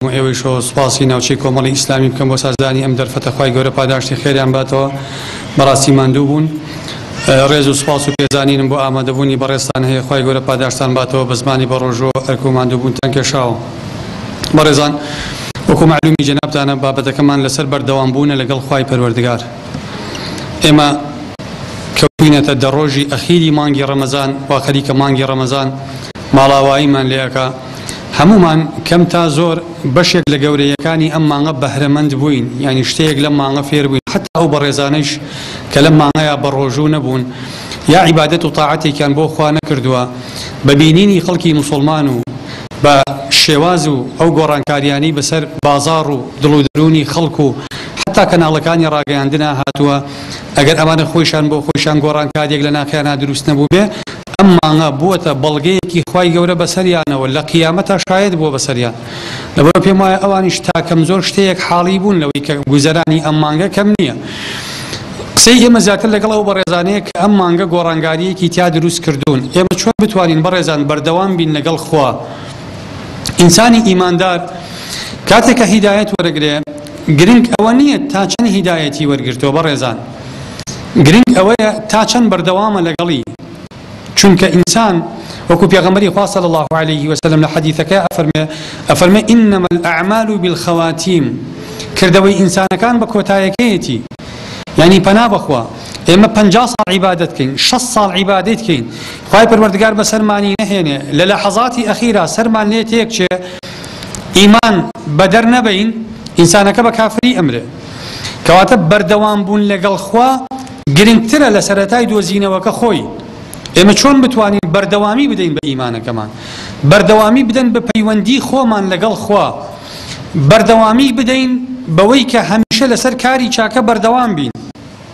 و ئێوەی شۆ سوپاسی ناوچەی کۆمەڵی ئیسلامی بکەم بۆ سازدانی ئەم دەرفەتە خی گەورە پاداشتی خێریان باتەوە بەڕاستی ماندوو بوون ڕێز و سوپاس و پێزانینم بۆ ئامادەبوونی بەڕێستان هەیە خی گەورە پاداشتان باتەوە بە زمانی بە ڕۆژۆ ئەرک و ماندووبوونتان کێشاوە بەڕێزان وەکو معلومی جەنابتانە بابەتەکەمان لەسەر بەردەوام بوونە لەگەڵ خی پەروەردگار ئێمە کەوتوینەتە دە ڕۆژی ئەخیری مانگی ڕەمەزان وا خەریکە مانگی ڕەمەزان ماڵاواییمان لێ ئەکا هەموومان کەم تا زۆر بەشێک لە گەورەیەکانی ئەم مانگە بەهرەمەند بووین یانی شتەیەک لەم مانگە فێر بووین حتا ئەو بەڕێزانەیش کە لەم مانگەیە بە ڕۆژوو نەبوون یا عیبادەت و تاعەتێکیان بۆ خوا نەکردووە بە بینینی خەڵکی مسلمان و بە شێواز و ئەو گۆڕانکاریانی بەسەر بازاڕ و دڵ و دەروونی خەڵک و هەتا کەناڵەکانی ڕاگەیاندنا هاتووە ئەگەر ئەمانە خۆیشان بۆ خۆیشان گۆڕانکاریەک لە ناخیانا دروست نەبووبێ ئەم مانگە بووەتە بەڵگەیەکی خوای گەورە بەسەریانەوە لە قیامەتا شایەد بووە بەسەریان لەبەرە پێم وایە ئەوانیش تاکەم زۆر شتەیەک حاڵی بوون لەوەی کە گوزەرانی ئەم مانگە کەم نییە قسەی ئێمە زیاتر لەگەڵ ئەو بەڕێزانەیە کە ئەم مانگە گۆڕانگاریەکی تیا دروست کردوون ئێمە چۆن بتوانین بەڕێزان بەردەوام بین لەگەڵ خوا ئینسانی ئیماندار کاتێکە هیدایەت وەرەگرێ گرنگ ئەوە نییە تا چەند هیدایەتی وەرگرتووە بەڕێزان، گرنگ ئەوەیە تا چەند بەردەوامە لەگەڵی، چونکە ئینسان وەکو پێغەمبەری خوا صلی اللە علیە و سلم لە حەدیثەکەیا ئەفەرموێ ئەفەرموێ انما الاعمال بالخواتیم کردەوەی ئینسانەکان بە کۆتایەکەیەتی یانی پەنا بەخوا ئێمە پەنجا ساڵ عیبادەت کەین شەست ساڵ عیبادەت کەین خوای پەروەردگار بەسەرمانی نەهێنێ لە لەحەزاتی ئەخیرا سەرمان لێ تێک چێ ئیمان بەدەر نەبەین ئینسانەکە بە کافری ئەمرێ کەواتە بەردەوام بوون لەگەڵ خوا گرنگترە لە سەرەتای دۆزینەوەکە خۆی ئێمە چۆن بتوانین بەردەوامی بدەین بە ئیمانەکەمان بەردەوامی بدەن بە پەیوەندی خۆمان لەگەڵ خوا بەردەوامی بدەین بەوەی کە هەمیشە لەسەر کاری چاکە بەردەوام بین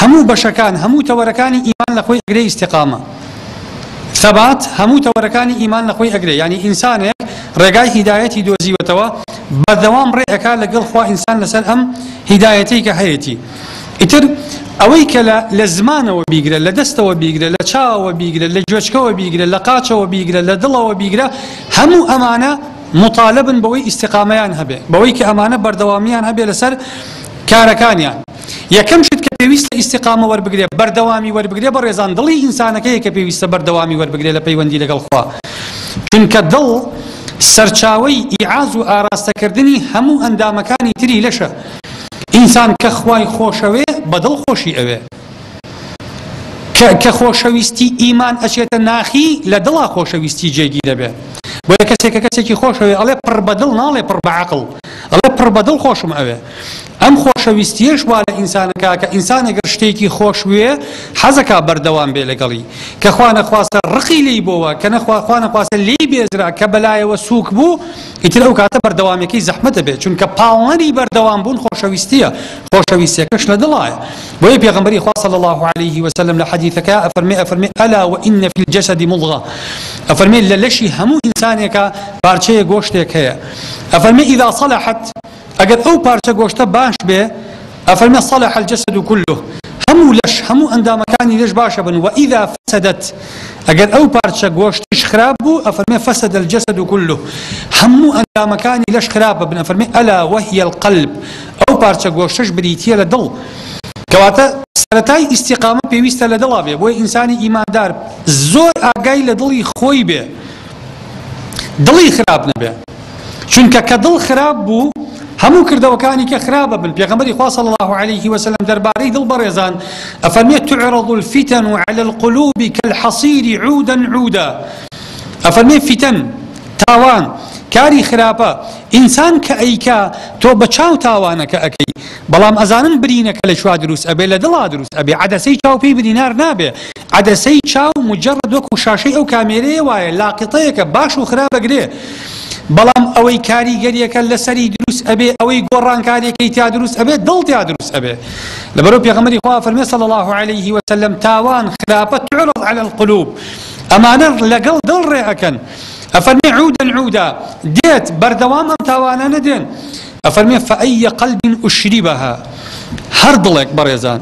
هەموو بەشەکان، هەموو تەوەرەکانی ئیمان لە خۆی ئەگرێ ئیستیقامە، ثبات، هەموو تەوەرەکانی ئیمان لە خۆی ئەگرێ یانی ئینسانێک ڕێگای هیدایەتی دۆزیوەتەوە بەردەوام ڕێ ئەکا لە گەڵ خوا ئینسان لە سەر ئەم هیدایەتەی کە هەیەتی ئیتر ئەوەی کە لە لە زمانەوە بیگرە لە دەستەوە بیگرە لە چاوەوە بیگرە لە گوێچکەوە بیگرە لە قاچەوە بیگرە لە دڵەوە بیگرە هەموو ئەمانە مطالبن بەوەی ئیستیقامەیان هەبێ بەوەی کە ئەمانە بەردەوامیان هەبێ لەسەر کارەکانیان. یەکەم شت کە پێویستە ئیستیقامە وەربگرێ بەردەوامی وەربگرێ بەڕێزان دڵی ئینسانەکەیە کە پێویستە بەردەوامی وەربگرێ لە پەیوەندی لەگەڵ خوا چونکە دڵ سەرچاوەی ئیعاز و ئاراستەکردنی هەموو ئەندامەکانی تری لەشە ئینسان کە خوای خۆشەوێ بە دڵ خۆشی ئەوێ کە خۆشەویستی ئیمان ئەچێتە ناخی لە دڵا خۆشەویستی جێگی دەبێ بۆیە کەسێکە کەسێکی خۆشەوێ ئەڵێ پڕ بەدڵ ناڵێ پڕ بەعقل ئەڵێ پڕ بەدڵ خۆشم ئەوێ ئەم خۆشەویستیەش وا لە ئینسان ئەکا کە ئینسان ئەگەر شتێکی خۆش بوێ حەزەکا بەردەوام بێ لەگەڵی کە خوا نەخواستە ڕقی لێی بۆوە کە نەخوا خوا نەخواستە لێی بێزرا کە بەلایەوە سووک بوو ئیتر ئەو کاتە بەردەوامەکەی زەحمەت دەبێت چونکە پاڵنەری بەردەوام بوون خۆشەویستیە خۆشەویستیەکەش لە دڵایە بۆیە پێغەمبەری خوا صلی الله عليه وسلم لە حەدیثەکە ئەفەرمێ ئەفەرمێ ئەلا وئن فی الجسد مضغە ئەفەرمێ لە لەشی هەموو ئینسانێکە پارچەیە گۆشتێک هەیە ئەفەرمێ اذا صلحت ئەگەر ئەو پارچە گۆشتە باش بێ، ئەفەرمێ صلح الجسد کله، هەموو لەش، هەموو ئەندامەکانی لەش باش ئەبن، واذا فسدت، ئەگەر ئەو پارچە گۆشتیش خراپ بوو، ئەفەرمێ فسد الجسد کله، هەموو ئەندامەکانی لەش خراپ ئەبن، ئەفەرمێ الا وهی القلب، ئەو پارچە گۆشتەش بریتییە لە دڵ، کەواتە سەرەتای ئیستیقامە پێویستە لە دڵا بێ، بۆیە ئینسانی ئیماندار زۆر ئاگای لە دڵی خۆی بێ، دڵی خراپ نەبێ. چونکە کە دڵ خراپ بوو هەموو کردەوەکانی کە خراپ ئەبن پێغەمبەری خوا صلی الله علیه و سلم دەربارەی دڵ بەڕێزان ئەفەرمێت تعرض الفتن على القلوب كالحصير عودا عودا ئەفەرمێت فتن تاوان کاری خراپە ئینسان کە ئەیکا تۆ بە چاو تاوانەکە ئەەکەی بەڵام ئەزانن برینەکە لە شوا دروست ئەبێ لە دڵا دروست ئەبێ عدەسەی چاوپی برینار نابێ عەدەسەی چاو مجەڕەد وەکو شاشەی ئەو کامێرەیە وایە لاقیطەیەکە باش و خراپ ئەگرێ بەڵام ئەوەی کاریگەریەکە لەسەری دروست ئەبێ ئەوەی گۆڕانکاریەکەی تیا دروست ئەبێ دڵ تیا دروست ئەبێ لەبەرو پێغەمەری خوا فەرمێ صلی الله عليه وسلم تاوان خراپە تعرض على القلوب ئەمانە لەگەڵ دڵ ڕێ ئەکەن ئەفەرمێ عودا عودا دێت بەردەوام ئەم تاوانە نەدێن ئەفەرمێ، فەئەی قەلب ئوشریبەها، هەر دڵێک بەڕێزان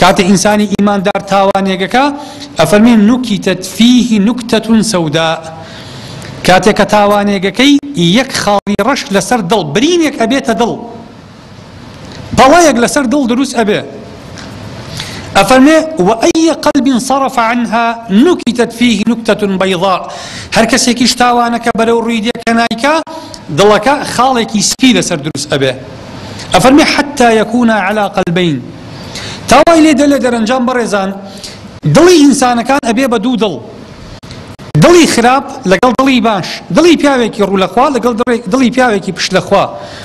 کاتێ ئینسانی ئیماندار تاوانێک ئەکا ئەفەرمێ، نوکیتەت فیه نوکتە سەوداء، کاتێ کە تاوانێک ئەکەی یەک خاڵی ڕەش لەسەر دڵ، برینێک ئەبێتە دڵ، پەڵەیەک لەسەر دڵ دروست ئەبێ. ئەفەرمێ، وەئەی قەلب صرف عنها نکتت فیه نکتە بیضاء، هەر کەسێکیش تاوانەکە بەرەو ڕووی دێ کە نایکا، دڵەکە خاڵێکی سپی لەسەر دروست ئەبێ. ئەفەرمێ، حتی یکونا علی قلبین، تا وای لێ دێ لە دەرەنجام بەڕێزان دڵی ئینسانەکان ئەبێ بە دوو دڵ، دڵی خراپ لەگەڵ دڵی باش، دڵی پیاوێکی ڕوو لە خوا لەگەڵ دڵی پیاوێکی پشت لە خوا،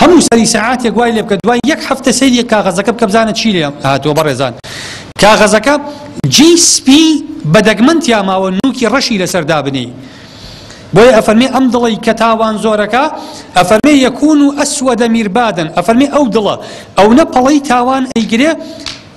هەموو سەری سەعاتێک وای لێبکە دوای یەک هەفتە سەیری یەک کاغەزەکە بکە بزانە چی لێ هاتووە بەڕێزان کاغەزەکە جی سپی بە دەگمەن تیاماوە نوکی ڕەشی لەسەر دابنی بۆیە ئەفەرمی ئەم دڵی کە تاوان زۆرەکە ئەفەرمێ یەکون و ئەسوەدە میربادن ئەفەرمی ئەو دڵە ئەو نە پەڵەی تاوان ئەیگرێ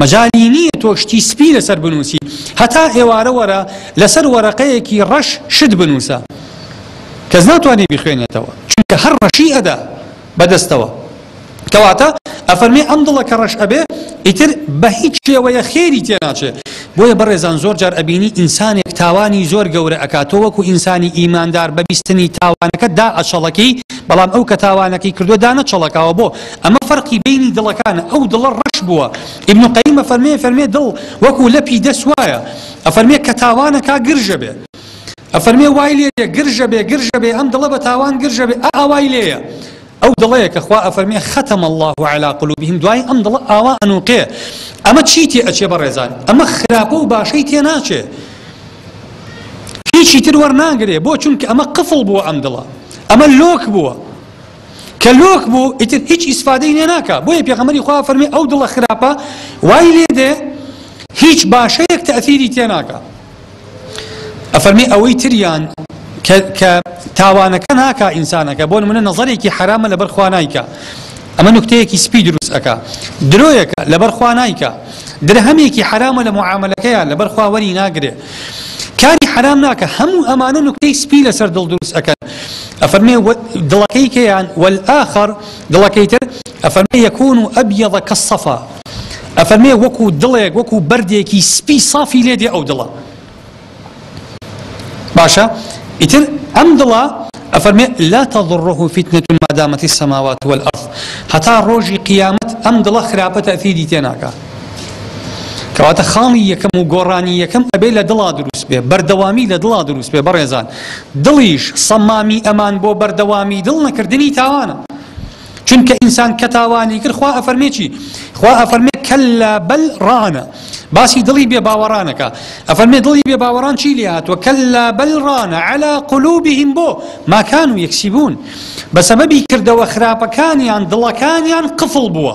مەجالی نیە تۆ شتی سپی لەسەر بنوسی هەتا ئێوارە وەرە لەسەر وەرەقەیەکی ڕەش شت بنوسە کەس ناتوانێ بیخوێنێتەوە چونکە هەر ڕەشی ئەدا بەدەستەوە کەواتە ئەفەرمێ ئەم دڵە کە ڕەش ئەبێ ئیتر بە هیچ شێوەیە خێری تێناچێ بۆیە بەڕێزان زۆر جار ئەبینی ئینسانێک تاوانی زۆر گەورە ئەکاتۆ وەکو ئینسانی ئیماندار بەبیستنی تاوانەکە دا ئەچەڵەکی بەڵام ئەو کە تاوانەکەی کردو دانەچەڵەکاوە بۆ ئەمە فەرقی بەینی دڵەکانە ئەو دڵە ڕەش بووە ئیبن قەیم ئەفەرمێ فەرمێ دڵ وەکو لەپی دەست وایە ئەفەرمێ کە تاوانە کا گرژە بێ ئەفەرمێ وای لێ دێ گرژە بێ گرژە بێ ئەم دڵە بە تاوان گرژە بێ ئا ئاوای لێیە ئەو دڵەیە کە خوا ئەفەرمێ خەتەم الله علا قلوبهم دوای ئەم دڵە ئاوا ئەنوقێ ئەمە چی تێ ئەچێ بە ڕێزان ئەمە خراپە و باشەی تێ ناچێ هیچی تر وەرناگرێ بۆ چونکە ئەمە قفڵ بووە ئەم دڵە ئەمە لۆک بووە کە لۆک بوو ئیتر هیچ ئیسفادەی لێ ناکا بۆیە پێغەمبەری خوا فەرمی ئەو دڵە خراپە وای لێ دێ هیچ باشەیەک تەثیری تێ ناکا ئەفەرمی ئەوەی تریان کە تاوانەکە ناکا ئینسانەکە بۆ منە نەزەرێکی حرامە لەبەر خوا نایکە ئەمە نکتەیەکی سپی دروست ئەکا درۆیەکە لەبەر خوا نایکە درهەمێکی حرامە لە معاملەکەیان لەبەر خواوەری ناگرێ کاری حەرام ناکە هەموو ئەمانە نوکتەی سپی لەسەر دڵ دروست ئەکەن ئەفەرمێ دڵەکەی کێیان والآخر دڵەکەی تر ئەفەرمێ یەکون ئەبیض کالصفا ئەفەرمێ وەکو دڵێک وەکو بەردێکی سپی صافی لێ دێ ئەو دڵە باشە ئیتر ئەم دڵە ئەفەرمێ لا تضره فتنة ما دامت السماوات والأرض هەتا ڕۆژی قیامەت ئەم دڵە خراپە تەثیری تێناکە کەواتە خاڵی یەکەم و گۆڕانی یەکەم ئەبێ لە دڵا دروست بێ بەردەوامی لە دڵا دروست بێ بەڕێزان دڵیش سەمامی ئەمان بۆ بەردەوامی دڵ نەکردنی تاوانە چونکە ئینسان کە تاوانی کرد خوا ئەفەرمێکی خوا ئەفەرمێ کەللا بەل ڕانە باسی دڵی بێ باوەڕانەکە ئەفەرمێ دڵی بێ باوەڕان چی لێ هاتووە کەللا بەل ڕانە علا قلوبهم بۆ ماکان و یەکسی بوون بە سەبەبی کردەوە خراپەکانیان دڵەکانیان قفڵ بووە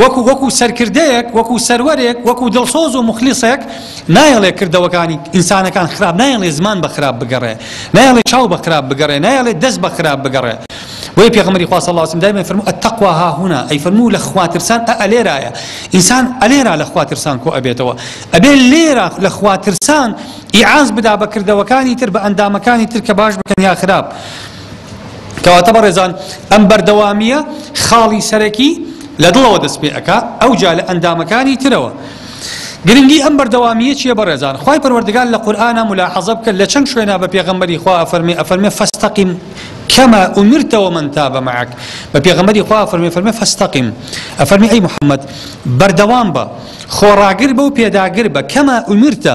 وەکو وەکو سەرکردەیەک، وەکو سەروەرێک، وەکو دڵسۆز و موخلیسێک، نایەڵێ کردەوەکانی ئینسانەکان خراپ، نایەڵێ زمان بە خراپ بگەڕێ، نایەڵێ چاو بە خراپ بگەڕێ، نایەڵێ دەست بە خراپ بگەڕێ. بۆیە پێغەمبەری خوا صلی اللە علیە وسلم دایمە ئەیفەرموو، التقوی هاهنا، ئەیفەرموو لە خوا ترسان ئەئە لێرایە، ئینسان ئەلێرا لە خوا ترسان کۆ ئەبێتەوە، ئەبێ لێرا لە خوا ترسان ئیعاز بدا بە کردەوەکانی تر، بە ئەندامەکانی تر کە باش بکەن یا خراپ. کەواتە بەڕێزان ئەم بەردەوامییە خاڵی سەرەکی لە دڵەوە دەست پێ ئەکا ئەوجا لە ئەندامەکانی ترەوە گرنگی ئەم بەردەوامیە چیە بەڕێزان خی پەروەردگار لە قورآە ملاحەزە بکە لە چەند شوێنە بە پێغمبەری خوا ئەفەرمی ئەفەرمێ فستەقیم کەمە ئومرتەوە من تا بە مەعک بە پێغمبەری خوا فەرمی فەرمێ فستەقیم ئەفەرمی ئەی محەممەد بەردەوام بە خۆڕاگر بە و پێداگر بە کەمە ئومرتە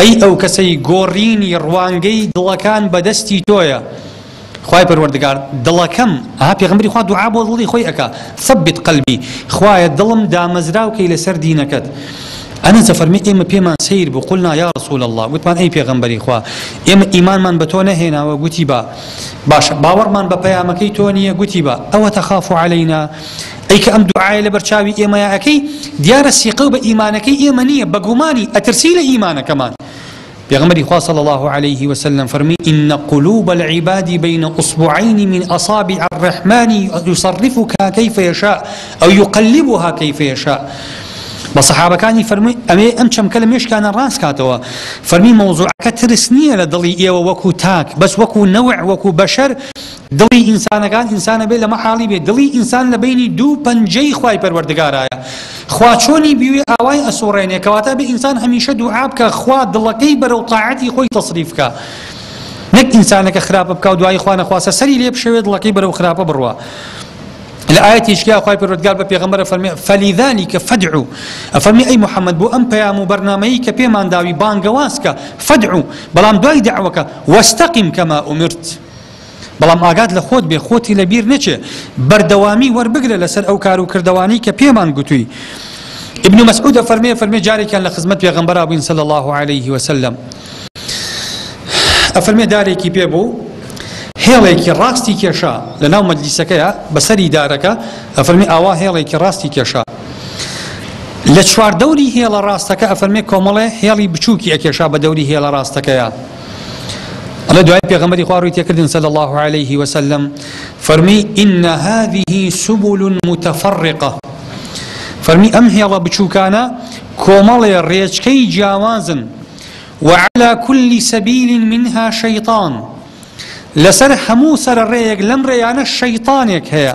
ئەی ئەو کەسەی گۆڕینی ڕوانگەی دڵەکان بەدەستی تۆیە خوای پەروەردگار دڵەکەم ها پێغمبری خوا دوعا بۆ دڵی خۆی ئەکا ثبت قلبی خوایە دڵم دامەزراو کەی لەسەر دینەکەت ئەنە زەفەرمی ئێمە پێمان سیر بوو قلنا یا رسول الله گوتمان ئەی پێغمبەری خوا ئێمە ئیمانمان بە تۆ نەهێناوە گوتی بە باشە باوەڕمان بە پەیامەکەی تۆ نییە گوتی بە ئەوە تەخاف عەلەینا ئەی کە ئەم دوعایە لەبەر چاوی ئێمەیا ئەکەی دیارە سیقەو بە ئیمانەکەی ئێمە نییە بە گومانی ئەترسی لە ئیمانەکەمان پێغمبەری خوا صلی الله عليه وسلم فرمی إن قلوب العباد بين أصبعين من أصابع الرحمن يصرفها كيف يشاء أو يقلبها كيف يشاء بە سەحابەکانی فەرمی ئەمێ ئەم چەمکە لە مێشکانە ڕاست کاتەوە فەرمی مەوزوعەکە ترس نییە لە دڵی ئێوە وەکو تاک بەس وەکو نەوە وەکو بەشەر دڵی ئینسانەکان ئینسانە بێ لە مەحاڵی بێ دڵی ئینسان لە بەینی دوو پەنجەی خوای پەروەردگارایە خوا چۆنی بیوێ ئاوای ئەسوڕێنێ کەواتە بێ ئینسان هەمیشە دوعا بکە خوا دڵەکەی بەرەو تاعەتی خۆی تەسریف کە نەک ئینسانەکە خراپە بکە و دوایی خوا نەخواسە سەری لێ بشەوێ دڵەکەی بەرەو خراپە بڕوا لە ئاەتیشکیا خخوای پرۆتگار بە پێغمبەر فەرمی فەلیدانی کە فەدعو ئەفەرمی ئەی محەممەد بۆ ئەم پەیام و بەرنمەیی کە پێمان داوی بانگەوازکە فەدعو بەڵام دوای داوەکە وەستەقیم کەما ئومرت بەڵام ئاگات لە خۆت بێ خۆتی لە بیر نەچێ بەردەوامی وەربگرە لەسەر ئەو کار و کردەوانەی کە پێمان گوتووی ابن مسعود ئەفەرمێ فەرمێ جارێکیان لە خزمەت پێغەمبەرا بووین صلی الله علیه وسلم ئەفەرمێ دارێکی پێ بوو هێڵێکی ڕاستی کێشا لە ناو مەجلیسەکەیە بەسەری دارەکە ئەفەرمی ئاوا هێڵێکی ڕاستی کێشا لە چواردەوری هێڵە ڕاستەکە ئەفەرمێ کۆمەڵێ هێڵی بچووکی ئەکێشا بە دەوری هێڵە ڕاستەکەیە ئەڵێ دوای پێغەمبەری خوا ڕووی تێکردن صلی الله علیه وسلم فەرمی ان هذه سبل متفرقه فەرمی ئەم هێڵە بچووکانە کۆمەڵێ ڕێچکەی جیاوازن وعلى كل سبيل منها شيطان لەسەر هەموو سەر ڕێیەک لەم ڕێیانە شەیطانێک هەیە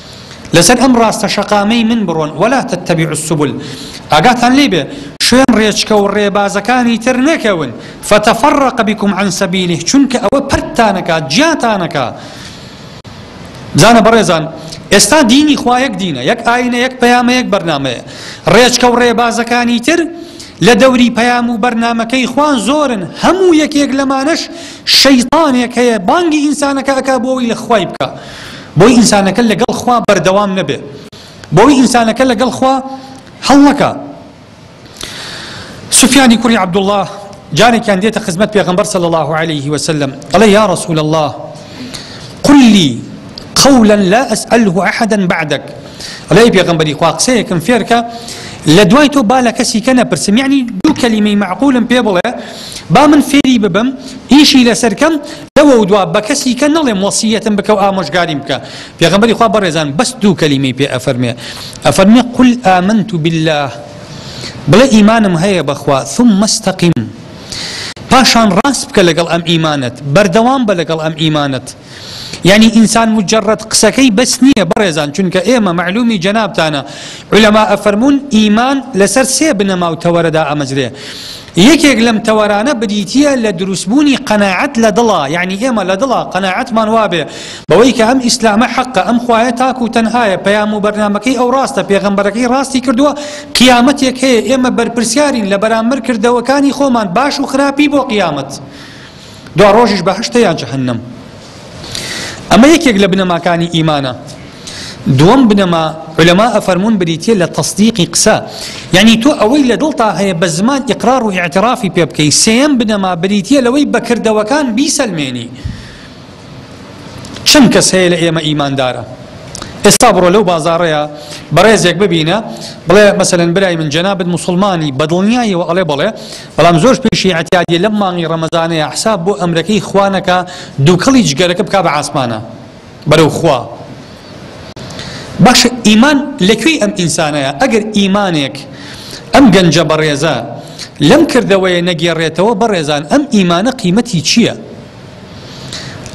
لەسەر ئەم ڕاستە شەقامەی من بڕۆن، ولا تتبعوا السبل، ئاگاتان لێی بێ شوێن ڕێچکە و ڕێبازەکانی تر نەکەون، فتفرق بکم عن سبیله، چونکە ئەوە پەرتتان ئەکات، جیاتان ئەکا. بزانە بەڕێزان، ئێستا دینی خوا یەک دینە، یەک ئاینە، یەک پەیامە، یەک بەرنامەیە. ڕێچکە و ڕێبازەکانی تر لە دەوری پەیام و بەرنامەکەی خوا زۆرن، هەموو یەکێک لەمانەش شەیتانێک هەیە بانگی ئینسانەکە ئەکا بۆ ئەوەی لە خوای بکا. بۆی ئینسانەکە لەگەڵ خوا بەردەوام نەبێ بۆی ئینسانەکە لەگەڵ خوا هەڵنەکا سفیانی کوڕی عەبدوڵڵا جارێکیان دێتە خزمەت پێغەمبەر صلی الله عليه وسلم ئەڵێ یا رسول الله قل لي قولا لا أسأله أحدا بعدك ئەڵێ پێغەمبەری خوا قسەیەکم فێرکە لە دوای تۆ با لە کەسی کە نەپرسم یعنی دوو کەلیمەی معقولم پێ بڵێ با من فێری ببم ئیشی لەسەرکەم لەوەودوا بەکەسیکە نەڵێم وەسیەتم بکە و ئامۆژگاریم بکە پێغەمبەری خوا بەڕێزان بەس دوو کەلیمەی پێ ئەفەرمێ ئەفەرمێ قل آمنت بالله بڵێ ئیمانم هەیە بەخوا ثم استقم پاشان ڕاست بکە لەگەڵ ئەم ئیمانەت بەردەوام بە لەگەڵ ئەم ئیمانەت یعنی ئینسان مجرد قسەکەی بەس نییە بەڕێزان چونکە ئێمە معلومی جەنابتانە علەما ئەفەرمونون ئیمان لەسەر سێ بنەما و تەوەرەدا ئەمەزرێ یەکێک لەم تەوەرانە بریتییە لە دروستبوونی قەناعەت لە دڵا، یەعنی ئێمە لە دڵا قەناعەتمان وابێ بەوەی کە ئەم ئیسلامە حەقە، ئەم خوایە تاک و تەنهایە، پەیام و بەرنامەکەی ئەو ڕاستە، پێغەمبەرەکەی ڕاستی کردووە، قیامەتێک هەیە، ئێمە بەرپرسیارین لە بەرامبەر کردەوەکانی خۆمان، باش و خراپی بۆ قیامەت، دواڕۆژیش بەهەشتە یان جەهەنەم. ئەمە یەکێک لە بنەماکانی ئیمانە دووەم بنەما علەما ئەفەرمونون بریتە لە تەصدیقی قسە یعنی تۆ ئەوەی لە دڵتا هەیە بە زمان ئقرار و اعترافی پێ بکەی سێم بنەما بریتە لەوەی بەکردەوەکان بیسەلمێنی چەند کەس هەیە لە ئێمە ئیماندارە ئێستا بڕۆ لەو بازارەیە بەڕێزێک ببینە بڵێ مەسەن برای من جەنابەت مسلمانی بەدڵنیایەوە ئەڵێ بڵێ بەڵام زۆرش پێشی ئیعتیادیە لەم مانگی ڕەمەزانەیا حساب بۆ ئەمرەکەی خوا نەکا دوکەڵی جگەرەکە بکا بە عاسمانا بەرەو خوا باشە ئیمان لەکوێی ئەم ئینسانەیە ئەگەر ئیمانێک ئەم گەنجە بەڕێزە لەم کردەوەیە نەگێڕێتەوە بەڕێزان ئەم ئیمانە قیمەتی چییە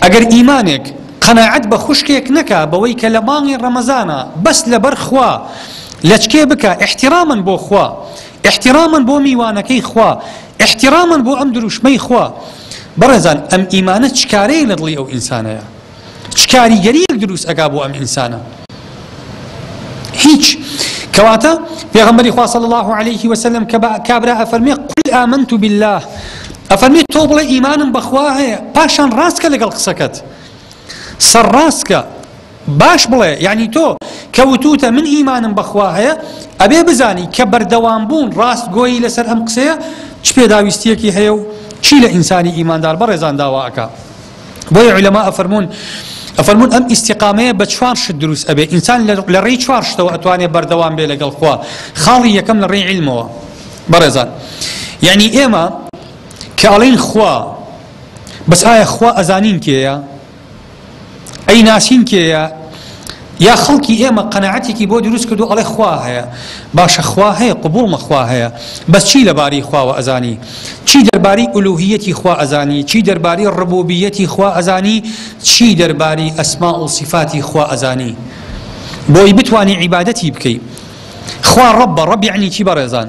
ئەگەر ئیمانێک قەنەعەت بە خوشکێک نەکا بەوەی کە لە مانگی ڕەمەزانە بەس لەبەر خوا لەچکێ بکە احتیرامن بۆ خوا احتراما بۆ میوانەکەی خوا احتراما بۆ ئەم دروشمەی خوا بەڕێزان ئەم ئیمانە چ کارەیەک لە دڵی ئەو ئینسانەیە چ کاریگەریەک دروست ئەگا بۆ ئەم ئینسانە هیچ کەواتە پێغمبەری خوا صلی الله عليه وسلم کە کابرا ئەفەرمێ قل آمنت بالله ئەفەرمی تۆ بڵێ ئیمانم بەخوا هەیە پاشان ڕاستکە لەگەڵ قسەکەت سەر ڕاستکە باش بڵێ یەعنی تۆ کە وتوتە من ئیمانم بە خوا هەیە ئەبێ بزانی کە بەردەوام بوون ڕاست گۆیی لەسەر ئەم قسەیە چ پێداویستیەکی هەیە و چی لە ئینسانی ئیماندار بەڕێزان داوا ئەکا بۆیە علەما ئەفەرموون ئەفەرمون ئەم ئیسیقامەیە بە چوار شت دروست ئەبێ ئینسان لە ڕێی چوار شتەوە ئەتوانێ بەردەوام بێ لەگەڵ خوا خاڵی یەکەم لە ڕێی علمەوە بەڕێزان یعنی ئێمە کە ئەڵین خوا بەس ئایا خوا ئەزانین کێە ئەیناسین کێیە یا خەڵکی ئێمە قەنەعەتێکی بۆ دروست کردو ئەڵێ خوا هەیە باشە خوا هەیە قبوڵمە خوا هەیە بەس چی لەبارەی خواوە ئەزانی چی دەربارەی ئولوهیەتی خوا ئەزانی چی دەربارەی ڕبوبیەتی خوا ئەزانی چی دەربارەی ئەسما و سیفاتی خوا ئەزانی بۆی بتانی عیبادەتی بکەی خوا ڕەبە ڕەب یعنی چی بەڕێزان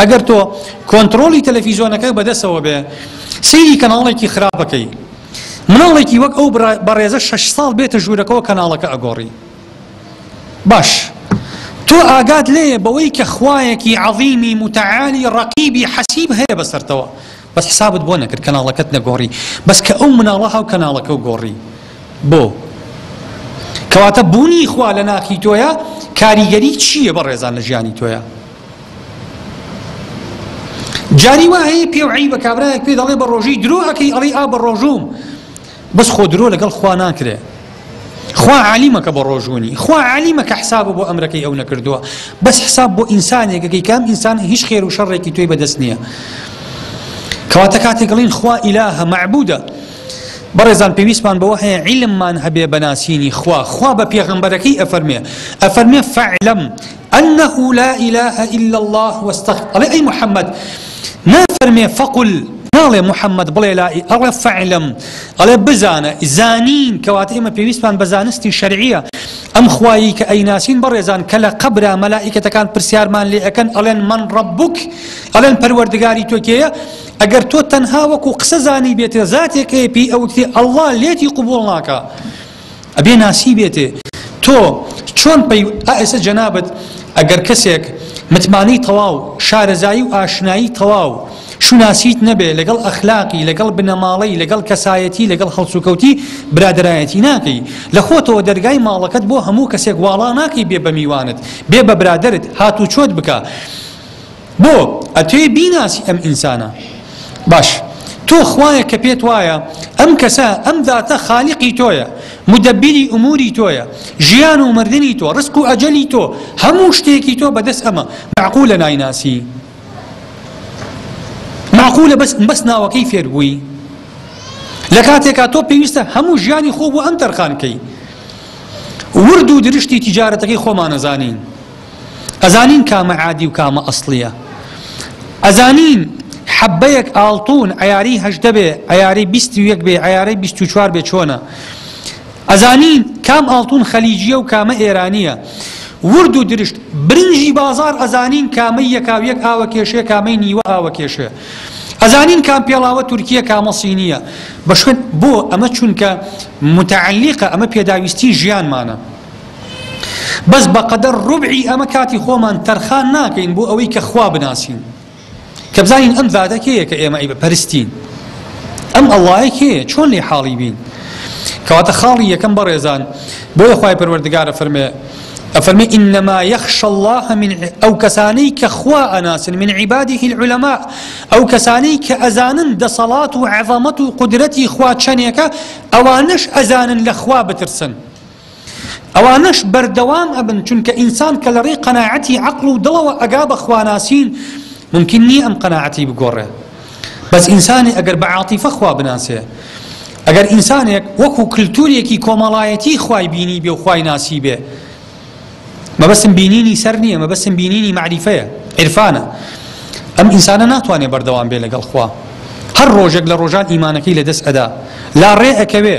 ئەگەر تۆ کۆنترۆڵی تەلەفیزۆنەکە بەدەسەوە بێ سەیری کەناڵێکی خراپەکەی مناڵێکی وەک ئەو بەڕێزە شش ساڵ بێتە ژوورەکەەوە کەناڵەکە ئەگۆڕی باش تۆ ئاگات لێ بەوەی کە خوایەکی عظیمی متعالی ڕقیبی حەسیب هەیە بەسەرتەوە بەس حسابت بۆ نەکرد کەناڵەکەت نەگۆڕی بەس کە ئەو مناڵە هاو کەناڵەکەو گۆڕی بۆ کەواتە بوونی خوا لە ناخی تۆیە کاریگەری چییە بە ڕێزان لە ژیانی تۆیە جاری وایە پێ و عیبە کابراەک پێ دەڵێ بە ڕۆژی درۆ ئەەکەی ئەڵی ئا بە ڕۆژوم بەس خۆ درۆ لەگەڵ خوا ناکرێ خوا عالیمە کە بە ڕۆژوونی خوا عالیمە کە حساب بۆ ئەمرەکەی ئەو نەکردووە بەس حساب بۆ ئینسانێکەکەی کام ئینسان هیچ خێر و شەڕێکی توی بەدەست نییە کەواتە کاتێکڵین خوا ئیلاهە معبودە بەڕێزان پێویستمان بەوە هەیە عیلممان هەبێ بەناسینی خوا خوا بە پێغمبەرەکەی ئەفەرمێ ئەفەرمێ فعلم انە لا الە الا اللە واستغ ئەڵێ ئەی محمد نافەرمێ فقل ناڵێ محمد بڵێ لا ئەڵێ فعلم ئەڵێ بزانە زانین کەواتە ئێمە پێویستمان بە زانستی شەرعیە ئەم خوایی کە ئەیناسین بەڕێزان کە لە قەبرا مەلائیکەتەکان پرسیارمان لێ ئەەکەن ئەڵێن من ڕبووک ئەڵێن پەروەردگاری تۆکێیە ئەگەر تۆ تەنها وەکو قسە زانی بێتە زاتێکەیە پێی ئەوتی ئەڵوا لێتی قوبول ناکە ئەبێ ناسیبێتێ تۆ چۆن پەی ئا ئێستا جەنابت ئەگەر کەسێک متمانەی تەواو شارەزایی و ئاشنایی تەواو شوناسیت نەبێ لەگەڵ ئەخلاقی لەگەڵ بنەماڵەی لەگەڵ کەسایەتی لەگەڵ هەڵسوکەوتی برادرایەتی ناکەی لە خۆتەوە دەرگای ماڵەکەت بۆ هەموو کەسێک واڵا ناکەی بێ بە میوانت بێ بە برادرت هاتوو چۆت بکە بۆ ئەتوێ بیناسی ئەم ئینسانە؟ باش تۆ خوایەک کە پێت وایە ئەم کەسە ئەم زاتە خالیقی تۆیە مدەبیری ئوموری تۆیە ژیان و مردنی تۆ ڕسق و ئەجەلی تۆ هەموو شتێکی تۆ بەدەست ئەمە معقولە نایناسی معقولە بەس بەس ناوەکەی فێر بووی لە کاتێکا تۆ پێویستە هەموو ژیانی خۆ بۆ ئەم تەرخانکەی ورد و درشتی تیجارەتەکەی خۆمانەزانین ئەزانین کامە عادی و کامە ئەسڵیە ئەزانین حەبەیەک ئاڵتون عیاری هەشدە بێ عیاری بیست و یەک بێ عیارەی بیست و چوار بێ چۆنە ئەزانین کام ئاڵتون خەلیجیە و کامە ئێرانیە ورد و درشت برنجی بازار ئەزانین کامەی یەکاویەک ئاوە کێشێ کامەی نیوە ئاوە کێشێ ئەزانین کام پێڵاوە تورکیە کامە سینیە بە شوێن بۆ ئەمە چونکە متعلیقە ئەمە پێداویستی ژیانمانە بەس بەقەدەر روبعی ئەمە کاتی خۆمان تەرخان ناکەین بۆ ئەوەی کە خوا بناسین کە بزانین ئەم زاتە کێیە کە ئێمە ئەی بەپەرستین ئەم ئەڵایە کێیە چۆن لێ حاڵی بین کەواتە خاڵی یەکەم بەڕێزان بۆیە خی پەروەردگارە فەرمێ ئەفەرمی ئینەما یەخش الله من ئەو کەسانی کە خوا ئەناسن من عیبادی هیل علەما ئەو کەسانی کە ئەزانن دەسەڵات و عەڤەمەت و قدرەتی خوا چەنێکە ئەوانش ئەزانن لە خوا بترسن ئەوانەش بەردەوام ئەبن چونکە ئینسان کە لەڕێی قەناعەتی عەقڵ و دڵەوە ئەگا بە خواناسین مومکین نیە ئەم قەناعەتەی بگۆڕێ بەس ئینسانی ئەگەر بە عاتیفە خوا بناسێ ئەگەر ئینسانێک وەکو کللتورێکی کۆمەڵایەتی خوای بینی بێ و خوای ناسی بێ مەبەستم بینینی سەر نییە مەبەستم بینینی معریفەیە عرفانە ئەم ئینسانە ناتوانێت بەردەوام بێ لەگەڵ خوا هەر ڕۆژێک لە ڕۆژان ئیمانەکەی لە دەست ئەدا لا ڕێ ئەکەوێ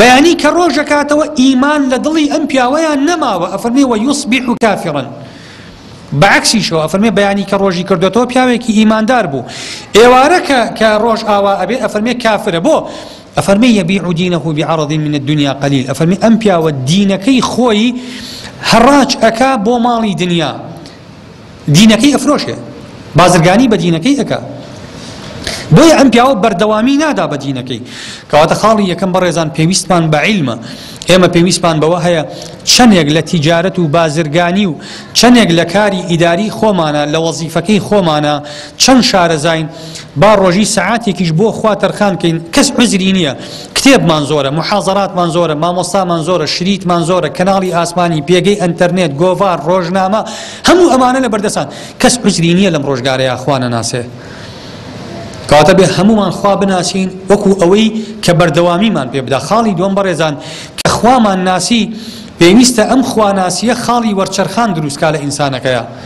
بەیانی کە ڕۆژ ئەکاتەوە ئیمان لە دڵی ئەم پیاوەیا نەماوە ئەفەرمێ وە یوسبیح کافرا بە عەکسیشەوە ئەفەرمێ بەیانی کە ڕۆژی کردۆتەوە پیاوێکی ئیماندار بوو ئێوارە کە کە ڕۆژ ئاوا ئەبێ ئەفەرمێ کافرە بۆ ئەفەرمی یەبیع و دینەه بعرض من الدنيا قليل ئەفەرمی ئەم پیاوە دینەکەی خۆی هەڕاج ئەکا بۆ ماڵی دنیا دینەکەی ئەفرۆشێ بازرگانی بە دینەکەی ئەکا بۆیە ئەم پیاوە بەردەوامی نادا بە دینەکەی کەواتە خاڵی یەکەم بەڕێزان پێویستمان بە عیلمە ئێمە پێویستمان بەوە هەیە چەندێک لە تیجارەت و بازرگانی و چەندێک لە کاری ئیداری خۆمانە لە وەزیفەکەی خۆمانە چەند شارەزین با ڕۆژی سەعاتێکیش بۆ خوا تەرخان کەین کەس عزری نییە کتێبمان زۆرە محازەراتمان زۆرە مامۆستامان زۆرە شریتمان زۆرە کەناڵی ئاسمانی پێگەی ئەتەرنێت گۆڤار ڕۆژنامە هەموو ئەمانە لە بەردەسان کەس عزری نییە لەم ڕۆژگارەیە خوانە ناسێ کاتە بێ هەمومان خوا بناسین وەکو ئەوەی کە بەردەوامیمان پێ بدا خاڵی دوم بەڕێزان کە خوامان ناسی پێویستە ئەم خواناسیە خاڵی وەرچەرخان دروستکە لە ئینسانەکەیە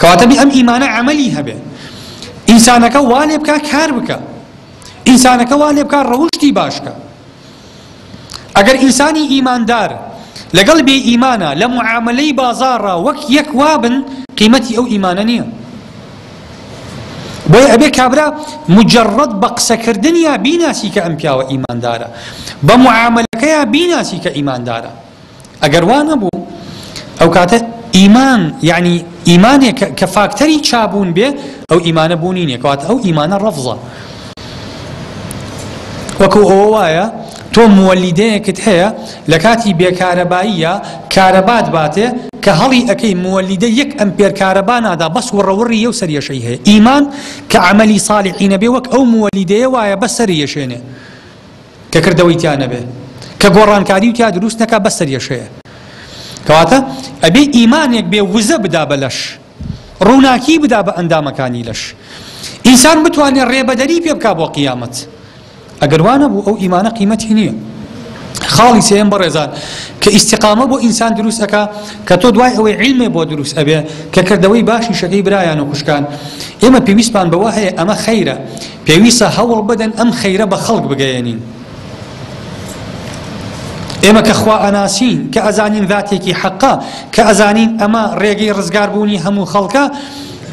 کەواتە بێ ئەم ئیمانە عەمەلی هەبێ ئینسانەکە وا لێ بکا کار بکە ئینسانەکە وا لێ بکا ڕەوشتی باشکە ئەگەر ئینسانی ئیماندار لەگەڵ بێ ئیمانە لە معاملەی بازاڕە وەک یەک وابن قیمەتی ئەو ئیمانە نییە بۆی ئەبێ کابرا مجرڕەت بە قسەکردنیا بیناسی کە ئەم پیاوە ئیماندارە بە معاملەکەیان بیناسی کە ئیماندارە ئەگەر وا نەبوو ئەوکاتە ئیمان یعنی ئیمانێک کە فاکتەری چابوون بێ ئەو ئیمانە بوونی نیە کەواتە ئەو ئیمانە ڕەفزە وەکو ئەوە وایە تۆ موەلیدەیەکت هەیە لە کاتی بێکارەباییە کارەبات باتێ کە هەڵی ئەەکەی موەلیدە یەک ئەم پێرکارەبا نادا بەس وڕەوڕی یو سەریەشەی هەیە ئیمان کە عملی ساڵحینەبێ وەک ئەو موەلیدەیە وایە بە سەریەشێنێ کە کردەوەی تیا نەبێ کە گۆڕانکاری و تیا دروست نەکا بەس سەریەشەیە کەواتە ئەبێ ئیمانێک بێ وزە بدا بە لەش ڕووناکی بدا بە ئەندامەکانی لەش ئینسان بتوانێت ڕێبەدەری پێ بکا بۆ قیامەت ئەگەر وانە بوو ئەو ئیمانە قیمەتی نییە خاڵی سێم بەڕێزان کە ئیسیقامە بۆ ئینسان دروستەکە کە تۆ دوای ئەوەی عیلمێ بۆ دروست ئەبێ کە کردەوەی باشی شەکەی برایان و خوشکان ئێمە پێویستمان بەوە هەیە ئەمە خەیرە پێویستە هەوڵ بدەن ئەم خەیرە بە خەڵک بگەیەنین. ئێمە کە خوا ئەناسین، کە ئەزانین ذاتێکی حەقە، کە ئەزانین ئەمە ڕێگەی ڕزگار بوونی هەموو خەڵکە،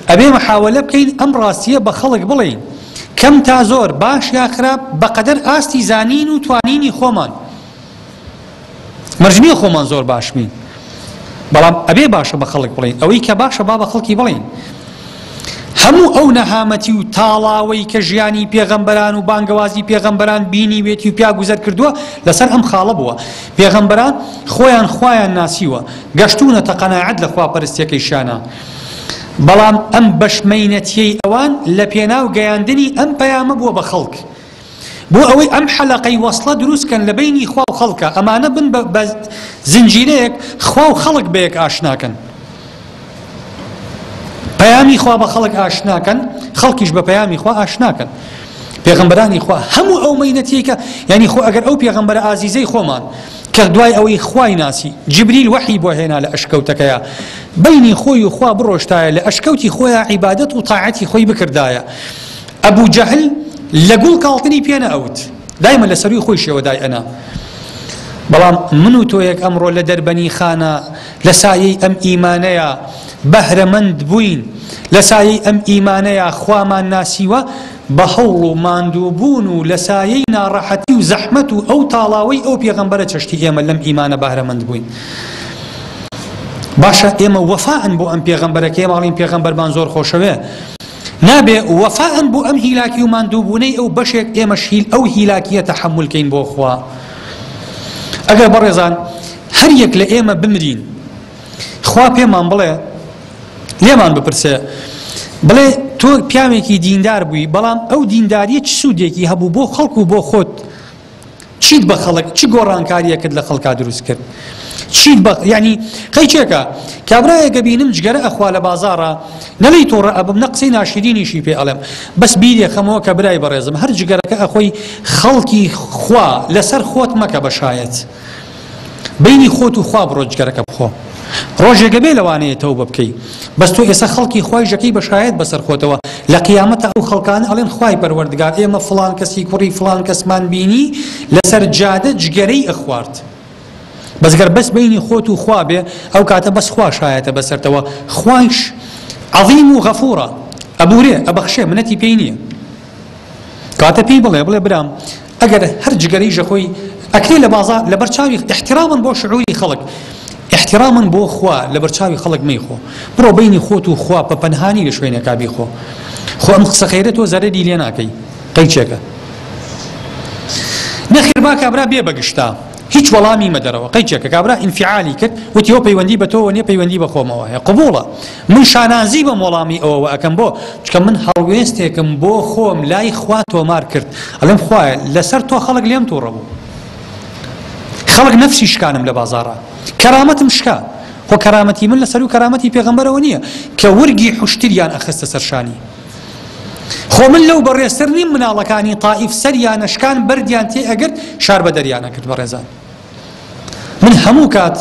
ئەبێ محاوەلە بکەین ئەم ڕاستییە بە خەڵک بڵێین، کەم تا زۆر، باش یا خراپ، بە قەدەر ئاستی زانین و توانینی خۆمان. مەرج نییە خۆمان زۆر باش بین بەڵام ئەبێ باشە بە خەڵک بڵین ئەوەی کە باشە با بە خەڵکی بڵین هەموو ئەو نەهامەتی و تاڵاوەی کە ژیانی پێغەمبەران و بانگەوازی پێغەمبەران بینی وێتی و پیا گوزەر کردووە لەسەر ئەم خاڵە بووە پێغەمبەران خۆیان خۆیان ناسیوە گەشتونە تەقەناعەت لە خواپەرستیەکەی شانە بەڵام ئەم بەشمەینەتیەی ئەوان لە پێناو گەیاندنی ئەم پەیامە بووە بە خەڵک بۆ ئەوەی ئەم حەلەقەی وەسڵە دروست کەن لە بەینی خوا و خەڵکا ئەمانە بن بە زنجیرەیەک خوا و خەڵک بەیەک ئاشناکەن پەیامی خوا بە خەڵک ئاشناکەن خەڵکیش بە پەیامی خوا ئاشناکەن پێغمبەرانی خوا هەموو ئەو مەینەتیکە ینی خۆ ئەگەر ئەو پێغمبەر ئازیزەی خۆمان کە دوای ئەوەی خوای ناسی جبریل وەحی بۆ هێنا لە ئەشکەوتەکەیە بینی خۆی و خوا بڕۆشتایە لە ئەشکەوتی خۆیان عیبادەت و تاعەتی خۆی بکردایە ئەبو جەهل لە گوڵ کاڵتنی پێ نە ئەوت دایمە لە سەروی خۆی شێوە دای ئەنا بەڵام من و تۆیەک ئەمڕۆ لە دەربەنی خانە لە سایەی ئەم ئیمانەیە بەهرەمەند بووین لە سایەی ئەم ئیمانەیە خوامان ناسیوە بە هەوڵ و ماندووبوون و لە سایەی ناڕەحەتی و زەحمەت و ئەو تاڵاوەی ئەو پێغەمبەرە چەشتی ئێمە لەم ئیمانە بەهرەمەند بووین. باشە ئێمە وەفاان بۆ ئەم پێغەمبەرەکەی ماڵین پێغەمبەرمان زۆر خۆشەوێ نابێ وەفائەن بۆ ئەم هیلاکی و ماندووبوونەی ئەو بەشێک ئێمەش هیل ئەو هیلاکییە تەحەمول کەین بۆ خوا ئەگەر بەڕێزان هەر یەک لە ئێمە بمرین خوا پێمان بڵێ لێمان بپرسێ بڵێ تۆ پیاوێکی دیندار بووی بەڵام ئەو دینداریە چ سوودێکی هەبوو بۆ خەڵک و بۆ خۆت چیت بە خەڵک چ گۆڕانکاریەکت لە خەڵکا دروست کرد چیت بە ینی قەیچێکە کابراەکە بینم جگەرە ئەخوا لە بازارە نەلی تۆڕە ئەبم نە قسەی ناشرینیشی پێ ئەڵێم بەس بیرێ خەمەوە کە برای بەڕێزم هەر جگەرەکە ئەخۆی خەڵکی خوا لەسەر خۆت مەکە بە شایەت بەینی خۆت و خوا بڕۆ جگەرەکە بخۆ ڕۆژێک ئەبێ لەوانەیە تەوبە بکەی بەس تۆ ئێسە خەڵکی خوای ژەکەی بە شایەت بەسەر خۆتەوە لە قیامەتا ئەو خەڵکانە ئەڵێن خوای پەروەردگار ئێمە فڵان کەسی کوڕی فڵان کەسمان بینی لەسەر جادە جگەرەی ئەخوارد بەس گەر بەس بینی خۆت و خوا بێ ئەو کاتە بەس خوا شایەتە بەسەرتەوە خوایش عظیم و غەفورە ئەبورێ ئەبەخشێ منەتی پێی نییە کاتە پێی بڵێ بڵێ برام ئەگەر هەر جگەرەی ژەکۆی ئەکرێ لە بازاڕ لەبەر چاوی احتراما بۆ شعوری خەڵک احتراما بۆ خوا لەبەر چاوی خەڵک مەیخۆ بڕۆ بینی خۆت و خوا پە پەنهانی لە شوێنێکا بیخۆ خۆ ئەم قسە خێرە تۆ زەرەری لێ ناکەی قەیچێکە نەخێر با کابرا بێ بەگشتا هیچ وەڵامی مەدەرەوە قەیچێکە کابرا ئینفعالی کرد وتیەوە پەیوەندی بە تۆوە نیە پەیوەندی بە خۆمەوە هەیە قبوڵە من شانازی بەم وەڵامی ئەوەوە ئەکەم بۆ؟ چونکە من هەڵوێستێکم بۆ خۆم لای خوا تۆمار کرد ئەڵێم خوایە لەسەر تۆ خەڵک لێم توڕە بوو خەڵک نەفسی شکانم لە بازاڕە کەرامەتم شکا خۆ کەرامەتی من لەسەر و کەرامەتی پێغەمبەرەوە نییە کە ورگی حشتریان ئەخستە سەرشانی خۆ من لەو بەڕێستر نیم مناڵەکانی تائیف سەریانەشکان بەردیان تێ ئەگرت شار بە دەریانەکرد بەڕێزان من هەموو کات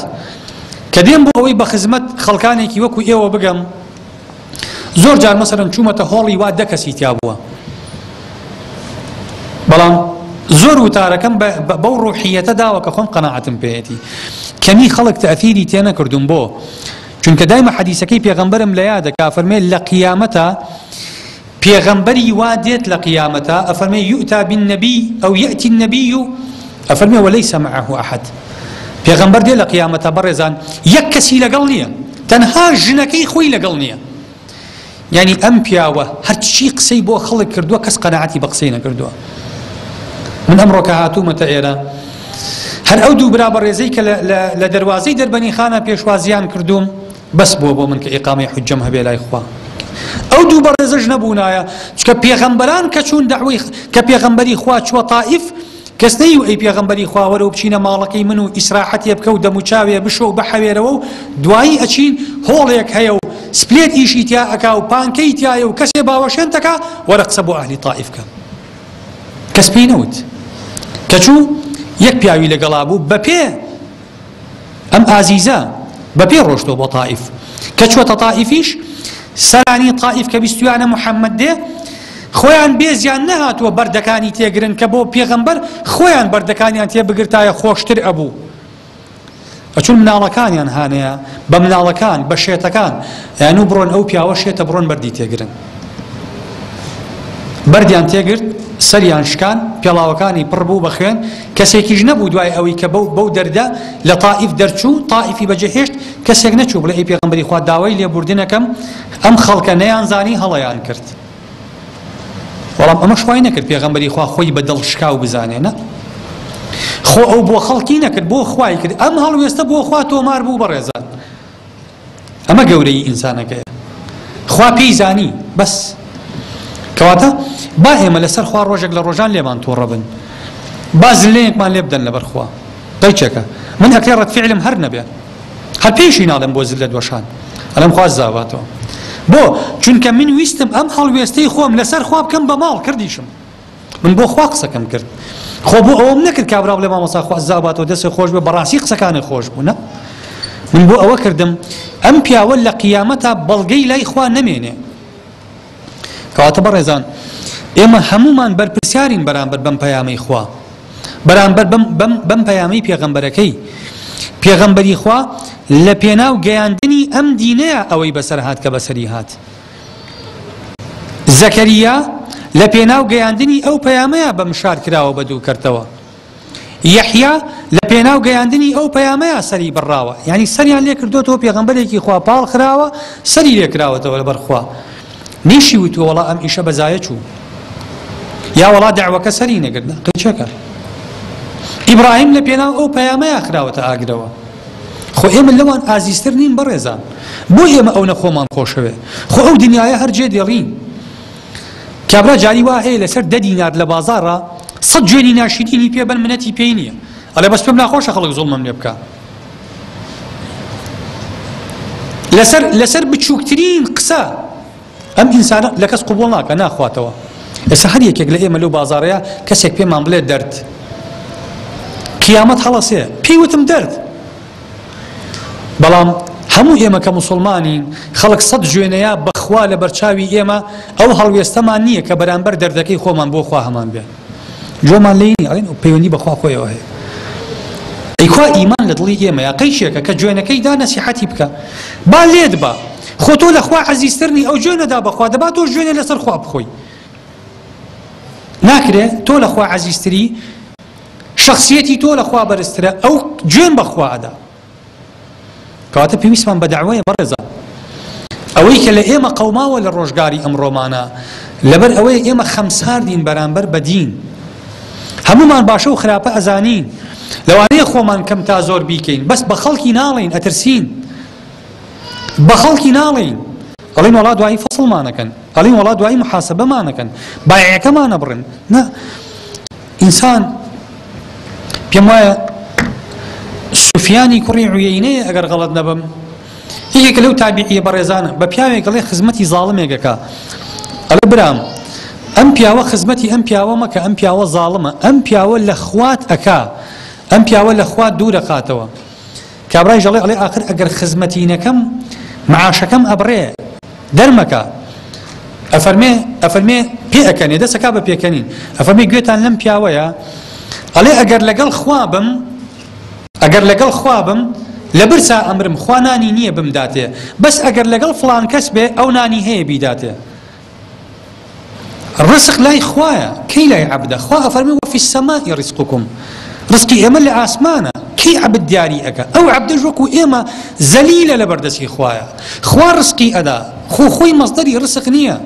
کە دێم بۆ ئەوەی بە خزمەت خەڵکانێکی وەکو ئێوە بگەم زۆر جار مەسەرن چوومەتە هۆڵی وا دە کەسی تیا بووە بەڵام زۆر وتارەکەم بەو ڕوحیەتە داوە کە خۆم قەنەعەتم پێەتی کەمی خەڵک تەثیری تێ نەکردوم بۆ چونکە دایمە حەدیسەکەی پێغەمبەرم لە یادە کافەرمێ لە قیامەتە پێغەمبەری وا دێت لە قیامەتا ئەفەرمێ یوتا بالنبی او یاتی النبی ئەفەرمێ ولیس معه احد پێغەمبەر دێ لە قیامەتا بەڕێزان یەک کەسی لەگەڵ نییە تەنها ژنەکەی خۆی لەگەڵ نییە یعنی ئەم پیاوە هەرچی قسەی بۆ خەڵک کردووە کەس قەنەعەتی بە قسەی نەکردووە من ئەمڕۆکە هاتوومەتە ئێرە هەر ئەو دوو برا بەڕێزەی کە لە دەواازەی دەربەنی خانە پێشوازیان کردووم بەس بووە بۆ من کە ئیقامەی حوججەم هەبێ لای خوا ئەو دوو بەڕێزەش نەبوونایە چکە پێغەمبەران کە چوون داوی کە پێغەمبەری خوا چووە تائیف کەس نەی و ئەی پێغەمبەری خواوەرە و بچینە ماڵەکەی من و ئیسراحەتێ بکە و دەموچاوێ بشۆ و بەحەوێرەوە و دوایی ئەچین هۆڵێک هەیە و سپلێت ئیشی تیا ئەکا و پانکەی تایە و کەسێ باوەشێن تەکا وەرە قسە بۆ ئەهلی تائیف کە کەس پێی نەوت کەچوو یەک پیاوی لەگەڵا بوو بە پێ ئەم ئازیزە بە پێ ڕۆشتۆ بۆ تائیف کە چوەتە تائیفیش سەرانی تائیف کە بیستویانە محەممەد دێ خۆیان بێزیان نەهاتووە بەردەکانی تێگرن کە بۆ پێغەمبەر خۆیان بەردەکانیان تێبگرتایە خۆشتر ئەبوو ئەچون مناڵەکانیان هانەیە بە مناڵەکان بە شێتەکان یان و بڕۆن ئەو پیاوە شێتە بڕۆن بەردی تێگرن بەردیان تێگرت، سەریان شکان، پێڵاوەکانی پڕ بوو بە خوێن، کەسێکیش نەبوو دوای ئەوەی کە بەو بەو دەردە لە تائیف دەرچوو، تائیفی بەجێ هێشت، کەسێک نەچوو بڵێ ئەی پێغەمبەری خوا داوای لێبووردنەکەم، ئەم خەڵکە نەیانزانی هەڵەیان کرد. بەڵام ئەمەش وای نەکرد پێغەمبەری خوا خۆی بە دڵ شکاو بزانێ نە خۆ ئەو بۆ خەڵکی نەکرد بۆ خوای کرد، ئەم هەڵوێستە بۆ خوا تۆمار بوو بەڕێزان. ئەمە گەورەیی ئینسانەکەیە خوا پێی زانی بەس کەواتە با ئێمە لەسەر خوا ڕۆژێک لە ڕۆژان لێمان تۆڕە بن با زلەیەکمان لێ بدەن لەبەر خوا قەیچێکە من ئەکرێ ڕەتفعلم هەر نەبێ هەر پێشی ناڵێم بۆ زل لە دۆشان ئەلم خواز زاواتەوە بۆ چونکە من ویستم ئەم هەڵوێستەی خۆم لەسەر خوا بکەم بە ماڵ کردیشم من بۆ خوا قسەکەم کرد خۆ بۆ ئەوەم نەکرد کابرا بڵێ مامۆسا خوا زاباتەوە دەسێ خۆش بێ بەڕاستی قسەکانە خۆش بوونە من بۆ ئەوە کردم ئەم پیاوە لە قیامەتا بەڵگەی لای خوا نەمێنێ کەواتە بەڕێزان ئێمە هەمومان بەرپرسیارین بەرامبەر بەم پەیامەی خوا بەرامبەر بەم پەیامی پێغەمبەرەکەی پێغەمبەری خوا لە پێناو گەیاندنی ئەم دینەیە ئەوەی بەسەر هاات کە بەسەری هات زەکەریا لە پێناو گەیاندنی ئەو پەیامەیە بە مشار کراوە بە دوو کەرتەوە. یەحیا لە پێناو گەیاندنی ئەو پەیامەیە سەری بڕاوە، یانی سەریان لێ کردۆتەوە پێغەمبەرێکی خوا پاڵ خراوە سەری لێ کراوەتەوە لەبەر خوا. نەیشی وتووە وەڵا ئەم ئیشە بە زایە چوو. یا وەڵا دەعوەکە سەری نەگرت قیچەکە. ئیبراهیم لە پێناو ئەو پەیامەیە خراوەتە ئاگرەوە. خۆ ئێمە لەوان ئازیزتر نین بەڕێزان بۆ ئێمە ئەونە خۆمان خۆشەوێ خۆ ئەو دنیاە هەر جێ دێڕین کابرا جاری وا هەیە لەسەر دە دینار لە بازارە سە جوێنی ناشیدینی پێ بەن منەتی پێی نییە ئەڵێ بەس پێم ناخۆشە خەڵک زۆڵمەم لێ بکە لەسەر لەسەر بچووکترین قسە ئەم ئینسانە لە کەس قبوڵ ناکا ناخواتەوە ئێستا هەر یەکێک لە ئێمە لەو بازارەیە کەسێک پێمان بڵێ دەرد قیامەت هەڵەسێ پێیوتم دەرد بەڵام هەموو ئێمە کە مسلمانی خەڵک سەد جوێنەیە بەخوا لە بەرچاوی ئێمە ئەو هەڵوێستەمان نییە کە بەرامبەر دەردەکەی خۆمان بۆ خوا هەمان بێ جۆمان لێی نیە ئەڵێن پەیوەندی بەخوا خۆیەوە هەیە ئەی کوا ئیمان لە دڵی ئێمەیە قەیشێکە کە جوێنەکەی دا نەسیحەتی بکە با لێت با خۆ تۆ لە خوا عەزیزترنی ئەو جوێنەدا بەخوا دەبا تۆ جوێنە لەسەر خوا بخۆی ناکرێ تۆ لە خوا عەزیزتری شخصیەتی تۆ لە خوا بەرزترە ئەو جوێن بەخوادا کەواتە پێویستمان بە دەعوەیە بەڕێزان. ئەوەی کە لە ئێمە قەوماوە لە ڕۆژگاری ئەمڕۆمانە لەبەر ئەوەی ئێمە خەمساردین بەرامبەر بە دین. هەمومان باشە و خراپە ئەزانین لەوانەیە خۆمان کەم تا زۆر بیکەین بەس بە خەڵکی ناڵین ئەترسین بە خەڵکی ناڵین ئەڵین وڵات دوایی فەسڵمانەکەن ئەڵین وڵات دوایی محاسبەمانەکەن بایەکەمانە بڕن ئینسان پێم وایە سوفیانی کوڕی عویینەیە ئەگەر غەڵەت نەبم یەکێک لەو تابیعیە بەڕێزانە بە پیاوێک گەڵێ خزمەتی زاڵمێکەکە ئەڵێ برام ئەم پیاوە خزمەتی ئەم پیاوە مەکە ئەم پیاوە زاڵمە ئەم پیاوە لە خوات ئەکا ئەم پیاوە لە خوات دوورەقاتەوە کابرایش دەڵێ ئەڵێ ئاخر ئەگەر خزمەتی نەکەم معاشەکەم ئەبڕێ دەرمەکە ئەفەرمێ ئەفەرمێ پێ ئەکەنێ دەسەکە بە پێکەنین ئەفەرمی گوێتان لەم پیاوەیە ئەڵێ ئەگەر لەگەڵ خوا بم ئەگەر لەگەڵ خوا بم لە برسا ئەمرم خوانانی نییە بمداتێ بەس ئەگەر لەگەڵ فلان کەس بێ ئەو نانی هەیە بیداتێ ڕزق لای خوایە کەی لای عەبدە خوا ئەفەرمێ وەفی السماء رزقکم ڕزقی ئێمە لە ئاسمانە کەی عەبد دیاری ئەکا ئەو عەبدەش وەکو ئێمە زەلیلە لە بەردەستی خوایە خوا ڕزقی ئەدا خۆ خۆی مەزدەری ڕسق نییە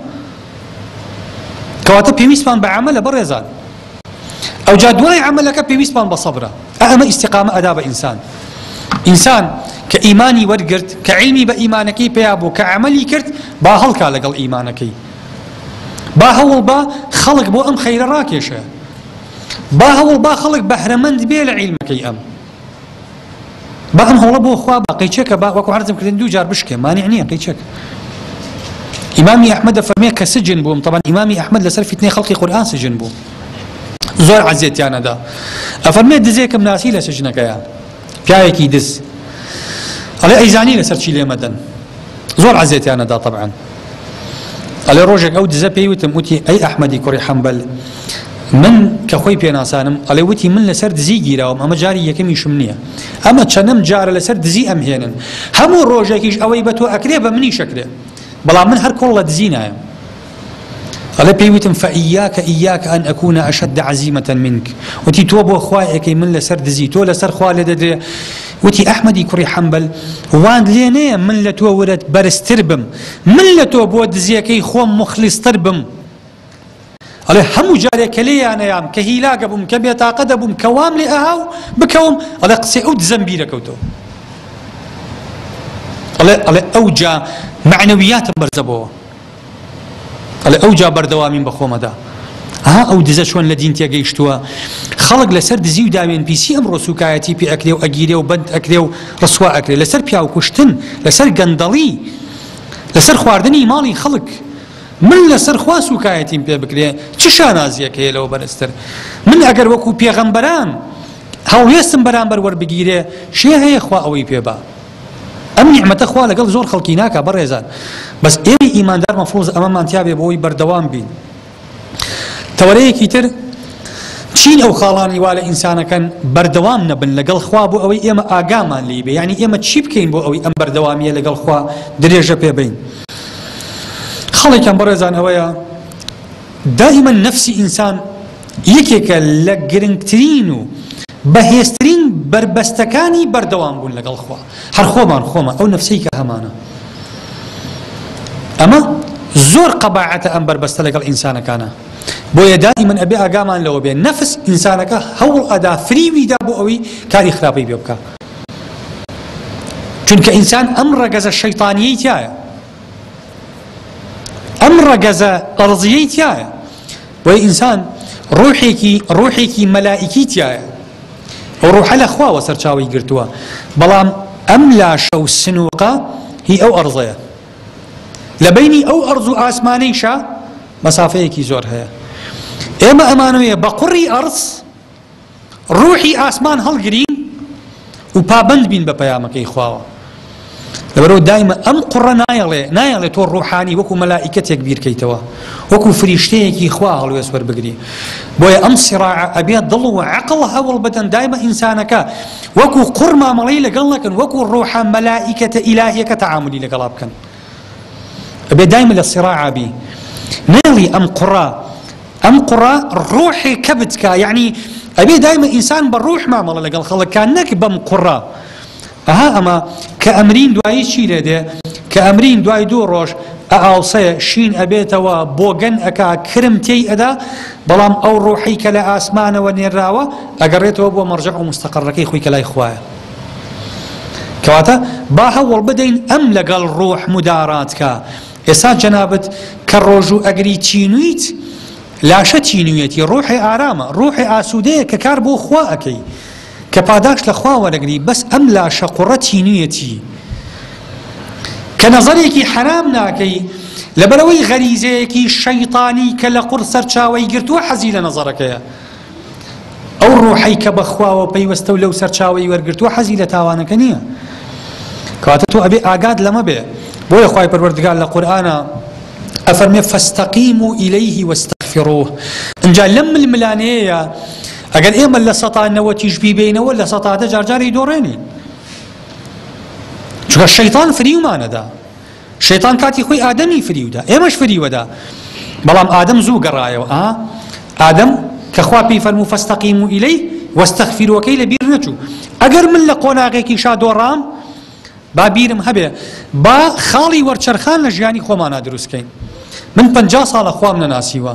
کەواتە پێویستمان بە عملە بەڕێزان ئەوجا دوای عەمەلەکە پێویستمان بە سەبرە ئا ئەمە ئیستیقامە ئەدا بە ئینسان ئینسان کە ئیمانی وەرگرت کە عیلمی بە ئیمانەکەی پیا بوو کە عەمەلی کرد با هەڵکا لەگەڵ ئیمانەکەی با هەوڵ با خەڵک بۆ ئەم خەیرە ڕاکێشە با هەوڵ با خەڵک بەهرەمەند بێ لە عیلمەکەی ئەم بەڵام هەوڵە بۆ خوا با قەیچەکە با وەکو عەرزم کردن دوو جار بشکێ مانع نییە قەیچەکە ئیمامی ئەحمەد دەفەرمێ کە سجن بووم طبعا ئیمامی ئەحمەد لەسەر فیتنەی خەڵقی قورئان سجن بوو زۆر عەزیەتیانەدا ئەفەرمێ دزێکم ناسی لە سجنەکەیە پیاوێکی دز ئەڵێ ئەیزانی لەسەر چی لێمەدەن زۆر عەزیەتیانەدا طبعا ئەڵێ ڕۆژێک ئەو دزە پێی وتم وتی ئەی ئەحمەدی کوڕی حەمبەل من کە خۆی پێناسانم ئەڵێ وتی من لەسەر دزی گیراوم ئەمە جاری یەکەمیشم نییە ئەمە چەنەم جارە لەسەر دزی ئەم هێنن هەموو ڕۆژێکیش ئەوەی بە تۆ ئەکرێ بە منی شەکرێ بەڵام من هەر کۆڵ لە دزی نایم ئەڵێ پێی وتم فەئیاکە ئیاکە ئەن ئەکوونە ئەشەد عزیمەتەن منک وتی تۆ بۆ خوای ئەەکەی من لەسەر دزی تۆ لەسەر خوا لێ دەدرێ وتی، ئەحمەدی کوڕی حەنبەل، وانت لێ نەیە من لە تۆ ورەت بەرزتر بم، من لە تۆ بۆ دزێکەی خۆم موخلیصتر بم. ئەڵێ، هەموو جارێ کە لێیان ئەیام، کە هیلاک ئەبووم، کە بێتاقەت ئەبووم، کە وام لێ ئەها و بکەوم، ئەڵێ، قسەی ئەو دزەم بیر ئەکەوتەوە. ئەڵێ، ئەڵێ، ئەوجا مەعنەویاتم بەرزەبۆوە. ئەڵێ ئەوجا بەردەوامیم بە خۆمەدا. ئەها ئەو دزە چۆن لە دین تێگەیشتووە، خەڵک لەسەر دزی و داوێنپیسی ئەمڕۆ سووکایەتی پێ ئەکرێ و ئەگیرێ و بەند ئەکرێ و ڕسوا ئەکرێ، لەسەر پیاوکوشتن، لەسەر گەندەڵی، لەسەر خواردنی ماڵی خەڵک. من لەسەر خوا سووکایەتیم پێ بکرێ چ شانازییەک هەیە لەوە بەرزتر؟ من ئەگەر وەکوو پێغەمبەران هەڵوێستم بەرامبەر وەربگیرێ، کێ هەیە خوا ئەوەی پێ با؟ ئەم نیعمەتە خوا لەگەڵ زۆر خەڵکی ناکا بەڕێزان بەس ئێمەی ئیماندار مەفروزە ئەمەمان تیابێ بۆی بەردەوام بین تەوەرەیەکی تر چین ئەو خاڵانی وا لە ئینسانەکەن بەردەوام نەبن لەگەڵ خوا بۆ ئەوەی ئێمە ئاگامان لی بێ ینی ئێمە چی بکەین بۆ ئەوەی ئەم بەردەوامیە لەگەڵ خوا درێژە پێ بین خەڵێکم بەڕێزان ئەوەیە دائیمەن نەفسی ئینسان یەکێکە لە گرنگترین و بەهێزترین بەربەستەکانی بەردەوام بوون لەگەڵ خوا هەر خۆمان خۆمە ئەو نفسەی کە هەمانە ئەمە زۆر قەباعەتە ئەم بەربەستە لەگەڵ ئینسانەکانە بۆیە دائیمەن ئەبێ ئاگامان لەوە بێ نەفس ئینسانەکە هەوڵ ئەدا فریویدا بۆ ئەوی کاری خراپی بێ بکە چونکە ئینسان ئەم ڕەگەزە شەیتانیی تایە ئەم ڕەگەزە ئەڕزیی تایە بۆیە ئینسان ڕوحێکی ڕوحێکی مەلائیکی تیایە ئەو ڕوحە لە خواوە سەرچاوی گرتووە بەڵام ئەم لاشە و سنووقە هی ئەو ئەرزەیە لە بینی ئەو ئەرز و ئاسمانەیشە مەسافەیەکی زۆر هەیە ئێمە ئەمانوێ بە قوڕی ئەرز ڕوحی ئاسمان هەڵگرین و پابەند بین بە پەیامەکەی خواوە لەبەرەوە دایمە ئەم قوڕە نایەڵێ نایەڵێ تۆ ڕوحانی وەکو مەلائیکەتێک بیرکەیتەوە وەکو فریشتەیەکی خوا هەڵوێست وەربگری بۆیە ئەم سیڕاع ئەبێ دڵ و عقل هەوڵ بدەن دایمە ئینسانەکە وەکو قوڕ مامەڵەی لەگەڵ نەکەن وەکو ڕوحە مەلائیکەتە ئیلاهیەکە تەعاملی لەگەڵا بکەن ئەبێ دایمە لە سیڕاعا بی نەیڵی ئەم قوڕە ئەم قوڕە ڕوحێ کەبت کا یعنی ئەبێ دایمە ئینسان بە ڕوح مامەڵە لەگەڵ خەڵکان نەک بەم قوڕە ئەها ئەمە کە ئەمرین دوایی چی لێ دێ کە ئەمرین دوای دوو ڕۆژ ئاوسەیە شین ئەبێتەوە بۆگەن ئەک کرم تێی ئەدا بەڵام ئەو ڕۆحی کە لە ئاسمانەوە نێراوە ئەگەڕێتەوە بۆ مەڕجە و مستەقڕەکەی خۆی کە لای خوایە کەواتە با هەوڵ بدەین ئەم لەگەڵ ڕوح موداراتکە ئێسا جەنابت کە ڕۆژوو ئەگری تینویت لاشە تینویەتی ڕوحی ئارامە ڕوحی ئاسوودەیە کە کار بۆ خوا ئەەکەی کە پاداش لە خوا وەرەگری بەس ئەم لاشە قوڕە تینویەتی کە نەزەرێکی حەرام ناکەی لەبەرەوەی غەریزەیەکی شەیتانی کە لە قوڕ سەرچاوی گرتووە حەزی لە نەزەرەکەیە ئەو ڕۆحەی کە بە خواوە پەیوەستە و لەو سەرچاوەی وەرگرتووە حەزی لە تاوانەکە نییە. کەواتە تۆ ئەبێ ئاگات لەمە بێ. بۆیە خوای پەروەردگار لە قورئانا ئەفەرمێ فاستقیمو ئیلیه واستغفروه. ئینجا لەم ململانێیە ئەگەر ئێمە لە سەتا نەوەتیش بیبینەوە لە سەتا دە جارجاری دۆڕێنین. چونکە شەیتان فریومانەدا. شەیتان کاتی خۆی ئادەمی فریودا ئێمەش فریوەدا بەڵام ئادەم زوو گەڕایەوە ئا ئادەم کە خوا پێی فەرموو فەستەقیمو ئیلەی وەستەغفیروەکەی لە بیر نەچوو ئەگەر من لە قۆناغێکیشا دۆڕام با بیرم هەبێ با خاڵی وەرچەرخان لە ژیانی خۆمانا دروستکەین من پەنجا ساڵە خوام نەناسیوە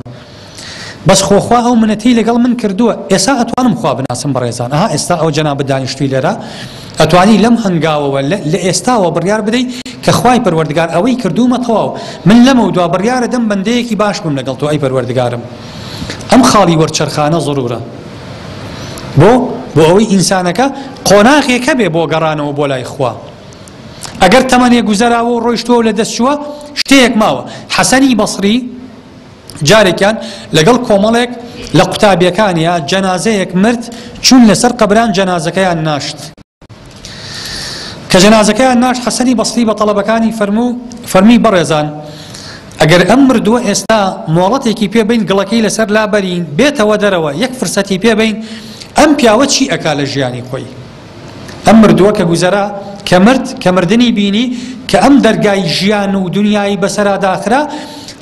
بەس خۆ خوا ئەو منەتەی لەگەڵ من کردووە ئێسا ئەتوانم خوا بناسم بەڕێزان ئەها ئێستا ئەو جەنابت دانیشتوی لێرە ئەتوانی لەم هەنگاوەوە لە ئێستاوە بڕیار بدەی کە خوای پەروەردگار ئەوەی کردوومە تەواو من لەمە دوا بڕیارە دەم بەندەیەکی باش بم لەگەڵ تۆ ئەی پەروەردگارم ئەم خاڵی وەرچەرخانە ضرورە بۆ بۆ ئەوەی ئینسانەکە قۆناغێکە بێ بۆ گەڕانەوە بۆ لای خوا ئەگەر تەمەنێ گوزەراوە و ڕۆیشتووە لە دەستچووە شتەیەک ماوە حەسەنی بەسری جارێکیان لەگەڵ کۆمەڵێک لە قوتابیەکانیا جەنازەیەک مرد چوون لەسەر قەبران جەنازەکەیان ناشت کە جەنازەکەیان ناشت حەسەنی بەسری بە تەڵەبەکانی فەرموو فەرمی بەڕێزان ئەگەر ئەم مردووە ئێستا مۆڵەتێکی پێ بین گڵەکەی لەسەر لابەرین بێتەوە دەرەوە یەک فرسەتی پێ بین ئەم پیاوە چی ئەکا لە ژیانی خۆی ئەم مردووە کە گوزەرا، کە مرد، کە مردنی بینی، کە ئەم دەرگای ژیان و دونیایی بەسەرا داخرا،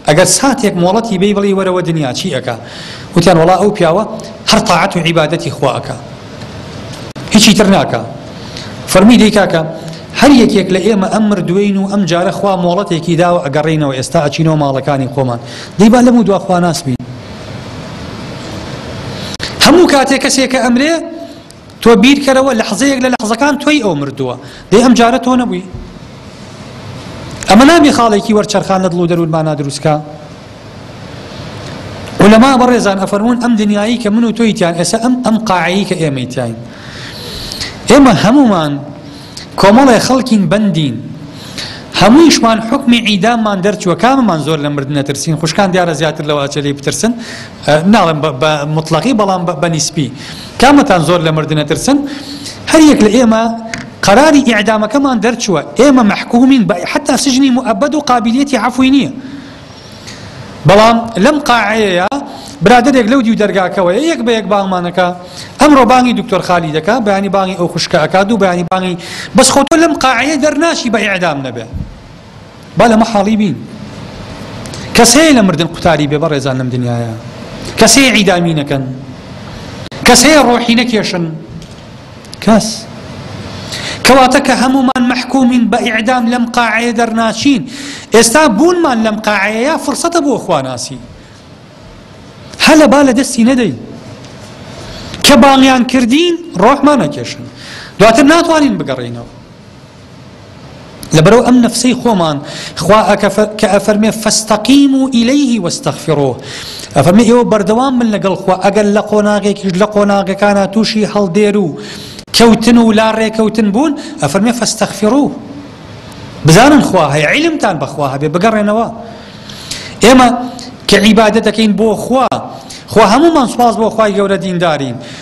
ئەگەر ساتێک مۆڵەتی بەی بڵێی وەرەوە دونیا چی ئەکا؟ وتیان وەڵا ئەو پیاوە هەر تاعەت و عیبادەتی خوا ئەکا هیچی تر ناکا. فەرمووی دەی کاکە هەر یەکێک لە ئێمە ئەم مردووین و ئەمجارە خوا مۆڵەتێکی داوە ئەگەڕێینەوە ئێستا ئەچینەوە ماڵەکانی خۆمان دەی با لەموو دوا خواناس بین. هەموو کاتێ کەسێکە ئەمرێ تۆ بیرکەرەوە لەحزەیەک لە لەحزەکان تۆی ئەو مردووە دەی ئەم جارە تۆ نەبووی ئەمە نابێ خاڵێکی وەرچەرخان لە دڵ و دەروونمانا دروستکا علماء بەڕێزان ئەفەرموون ئەم دنیایی کە من و تۆی تیان ئێسە ئەم ئەم قاعەیی کە ئێمەی تیاین ئێمە هەمومان کۆمەڵێ خەڵکین بەندین هەموویشمان حکمی عیداممان دەرچووە کاممان زۆر لە مردنە ترسین خوشکان دیارە زیاتر لەوە ئەچێ لێی بترسن ناڵێم بە موتڵەقی بەڵام بە نیسبی. کامەتان زۆر لە مردن ئەترسن؟ هەر یەک لە ئێمە قەراری ئیعدامەکەمان دەرچووە، ئێمە مەحکوومین بە حەتتا سجنی موئەبەد و قابیلیەتی عەفوی نییە. بەڵام لەم قاعەیەیا برادەرێک لەو دیو دەرگاکەوەیە یەک بە یەک بانگمان ئەکا، ئەمڕۆ بانگی دکتۆر خالید ئەکا، بەیانی بانگی ئەو خوشکە ئەکا، دوو بەیانی بانگی بەس خۆ تۆ لەم قاعەیە دەرناچی بە ئیعدام نەبێ. با لە مەحاڵی بین کەس هەیە لە مردن قوتاری بێ بەڕێزان لەم دنیاە کەس هەیە عیدامی نەکەن کەس هەیە ڕۆحی نەکێشن کەس کەواتە کە هەمومان مەحکومین بە ئیعدام لەم قاعەیە دەرناچین ئێستا بوونمان لەم قاعەیە فرسەتە بۆ خواناسی هەلە با لە دەستی نەدەی کە باڵیان کردین ڕۆحمان نەکێشن دواتر ناتوانین بگەڕینەوە لەبەرئەو ئەم نەفسەی خۆمان خوا ئەکەفە کە ئەفەرمێ فاستقیمو الیه واستغفروه ئەفەرمێ ئێوە بەردەوام بن لەگەڵ خوا ئەگەر لە قۆناغێکیش لە قۆناغەکانا تووشی هەڵدێرو کەوتن و لا ڕێکەوتن بوون ئەفەرمێ فاستغفروه بزانن خوا هەیە عیلمتان بەخوا هەبێ بگەڕێنەوە ئێمە کە عیبادەتەکەین بۆ خوا خوا هەمومان سوپاس بۆ خوای گەورە دیندارین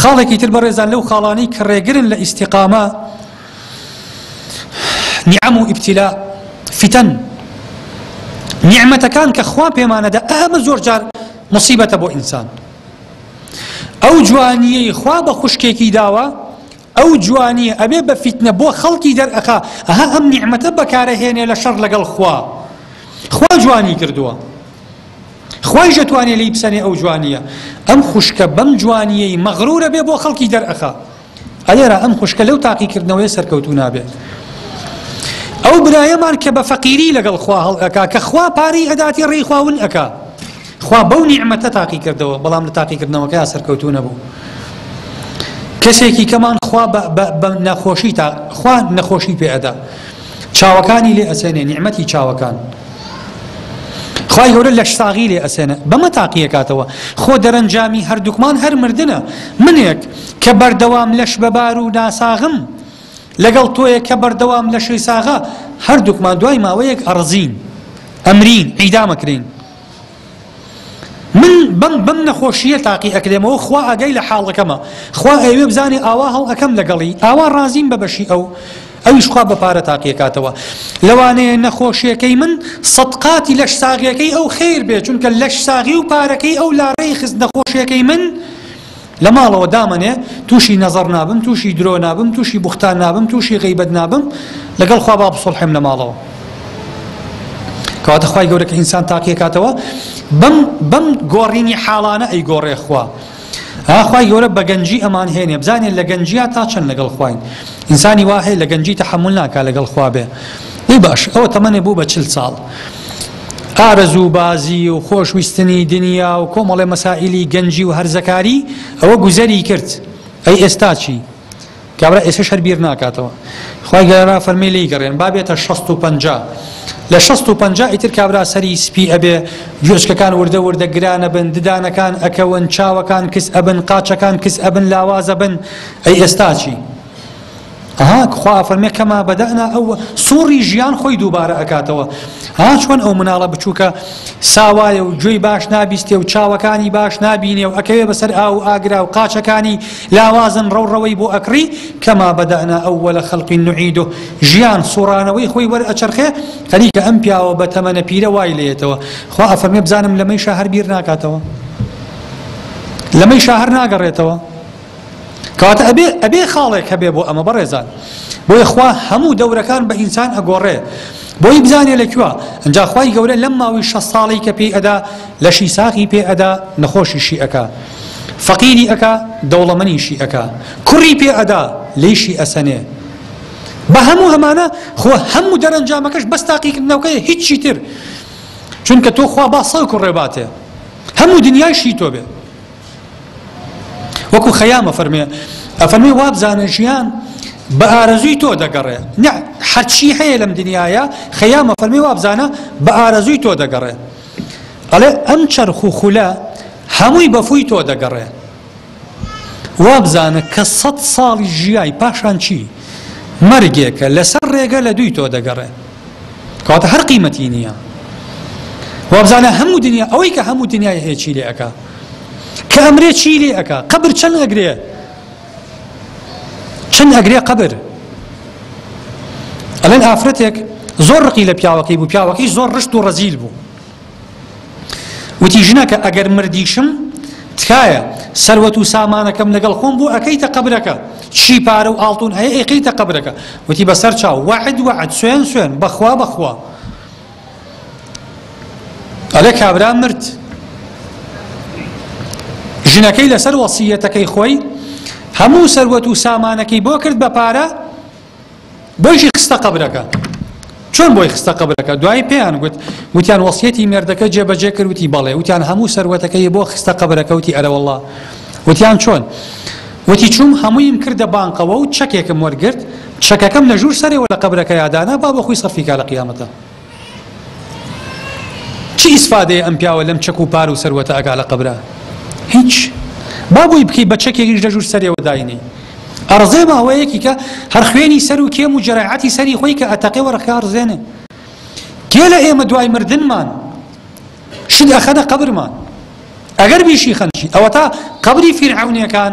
خاڵێکی تر بەڕێزان لەو خاڵانەی کە ڕێگرن لە ئیستیقامە نیعەم و ئیبتیلا فیتەن نیعمەتەکان کە خوا پێمانەدا ئەمە زۆر جار مصیبەتە بۆ ئینسان ئەو جوانیەی خوا بە خوشکێکی داوە ئەو جوانیە ئەبێ بە فیتنە بۆ خەڵکی دەر ئەخا ئەها ئەم نیعمەتە بەکارە هێنێ لە شەڕ لەگەڵ خوا خوا جوانی کردووە خوای ژەتوانێ لی بسەنێ ئەو جوانیە ئەم خوشکە بەم جوانیەی مەغرورە بێ بۆ خەڵکی دەرئەخا ئەلێرا ئەم خوشکە لەو تاقیکردنەوەی سەرکەوتو نابێت ئەو برایەمان کە بە فەقیری لەگەڵ خوا هەڵ ئەکا کە خوا پارەی ئەداتی ڕێی خواون ئەکا خوا بەو نیعمەتە تاقی کردەوە بەڵام لە تاقی کردنەوەکەیا سەرکەوتوو نەبوو کەسێکی کەمان خوا بە نەخۆشی تا خوا نەخۆشی پێ ئەدا چاوەکانی لێ ئەسێنێ نیعمەتی چاوەکان خی گەورە لەش ساغی لێ ئەسێنە بەمە تاقیەکاتەوە خۆ دەرەنجامی هەردووکمان هەر مردە منێک کە بەردەوام لەش بەبار و ناساغم لەگەڵ تۆیە کە بەردەوام لە شەی ساغا هەردووکمان دوای ماوەیەک ئەڕزین ئەمرین عیدامەکرین من بەم بەم نەخۆشییە تاقی ئەکرێمەوە خوا ئاگای لە حاڵەکەمە خوا ئەیەوێ بزانێ ئاوا هەڵ ئەکەم لەگەڵی ئاوا ڕازیم بە بەشی ئەو ئەویش خوا بە پارە تاقیەکاتەوە لەوانەیە نەخۆشیەکەی من سەد قاتی لەش ساغیەکەی ئەو خیر بێ چونکە لەش ساغی و پارەکەی ئەو لاڕێی خست نەخۆشیەکەی من لە ماڵەوە دامەنێ توشی نەزەڕ نابم توشی درۆ نابم توشی بوختان نابم توشی غەیبەت نابم لەگەڵ خوا با بسوڵحێم لە ماڵەوە کەواتە خوای گەورە کە ئینسان تاقیەکاتەوە بەم بەم گۆڕینی حاڵانە ئەی گۆڕێ خوا ئاخوای گەورە بە گەنجی ئەمان هێنێ بزانێت لە گەنجیا تا چەند لەگەڵ خواین ئینسانی واهەیە لە گەنجی تەحمل ناکە لەگەڵ خوا بێ ی باش ئەوە تەمەێ بوو بە چل ساڵ ئارەزوو بازی و خۆش ویستنی دنیا و کۆمەڵێ مەسائیلی گەنجی و هەرزەکاری ئەوە گوزەری کرد ئەی ئێستا چی کابرا ئێسش هەر بیر ناکاتەوە خی گەرا فەرمی لی گەڕێن بابێتە 1650 لە 1650 ئیتر کابرا سەری سپی ئەبێ گوێچکەکان وردە وردە گرانە بن ددانەکان ئەکەون چاوەکان کس ئەبن قاچەکان کس ئەبن لاوازە بن ئەی ئێستاچی ها خوا ئەفەرمێ کەما بەدەئنا ئەو سوڕی ژیان خۆی دووبارە ئەکاتەوە ها چۆن ئەو مناڵە بچووکە ساوایە و گوێی باش نابیستێ و چاوەکانی باش نبینێ و ئەکەوێ بەسەر ئاو و ئاگرا و قاچەکانی لاوازن ڕەوڕەوەی بۆ ئەکڕی کەما بەدەئنا ئەو وە لە خەڵقی نوعید و ژیان سوڕانەوەی خۆی وەر ئەچەرخێ هەریکە ئەم پیاوە بە تەمەنە پیرە وای لێتەوە خوا ئەفەرمێ بزانم لەمەی شە هەر بیر ناکاتەوە لەمەی شە هەر ناگەڕێتەوە کەواتە ئەبێ ئەبێ خاڵێک هەبێ بۆ ئەمە بەڕێزان بۆیە خوا هەموو دەورەکان بە ئینسان ئەگۆڕێ بۆی بزانێ لە کوێ ئەجا خوای گەورە لەم ماوەی شە ساڵی کە پێی ئەدا لەشی ساخی پێ ئەدا نەخۆشیشی ئەکا فەقیری ئەکا دەوڵەمەنیشی ئەکا کوڕی پێ ئەدا لێشی ئەسەنێ بە هەموو ئەمانە خۆ هەموو دەرەنجامەکەش بەس تاقیکردنەوەکەی هیچی تر چونکە تۆ خوا با سەڵک و ڕێباتێ هەموو دنیایشی تۆ بێ وەکو خەیام ئەفەرمێ ئەفەرمێ وابزانە ژیان بە ئارەزووی تۆ دەگەڕێ نە هەرچی هەیە لەم دنیاە خەیام ئەفەرمی وابزانە بە ئارەزووی تۆ دەگەڕێ ئەڵێ ئەم چرخ و خولە هەمووی بەفووی تۆ دەگەڕێ وابزانە کە سەد ساڵی ژیای پاشان چی مەرگێکە لەسەر ڕێگە لە دووی تۆ دەگەڕێ کەواتە هەر قیمەتی نییە وابزانە هەموو دنیا ئەوەی کە هەموو دنیای هەیەچی لێ ئەکا کە ئەمرێ چی لێ ئەکا قەبر چەند ئەگرێ چەند ئەگرێ قەبر ئەلەن ئافرەتێک زۆر ڕقی لە پیاوەکەی بوو پیاوەکەی زۆر ڕشت و ڕەزیل بوو وتی ژنەکە ئەگەر مردیشم تکایە سەروەت و سامانەکەم لەگەڵ خۆم بوو ئەەکەیتە قبلەکە چی پارە و ئاڵتون ئەیەکەیتە قبلەکە وتی بەسەر چاو وعد وعد سوێن سوێن بەخوا بەخوا ئەڵێ کابرا مرد ژنەکەی لەسەر وەسیەتەکەی خۆی هەموو سەروەت و سامانەکەی بۆ کرد بە پارە بۆیشی خستە قەبرەکە چۆن بۆی خستە قبلەکە دوای پێیان گوت وتیان وەسیەتی مێردەکە جێبەجێ کردوتی بەڵێ وتیان هەموو سەروەتەکەی بۆ خستە قبلەکەوتی ئەرەوەله وتیان چۆن وتی، چووم هەموویم کردە بانقەوە و چەکێکم وەرگرت، چەکەکەم لە ژوور سەرێوە لە قەبرەکەیا دانا با بۆ خۆی سەرفی کا لە قیامەتا. چ ئیسفادەیە ئەم پیاوە لەم چەک و پار و سەروەتە ئەکا لە قەبرا؟ هیچ. با بۆی بکەی بە چەکێکیش لە ژوور سەرێوە داینێی. ئەڕزێ بە ئەوەیەکی کە هەر خوێنی سەر و کێم و جەرایعەتی سەری خۆی کە ئەتەقێ وەرەقەکە ئەڕزێنێ. کێ لە ئێمە دوای مردنمان. شت ئەخەنە قەبرمان ئەگەر بیشی خەنشی ئەوەتا قەبری فیرعەونیەکان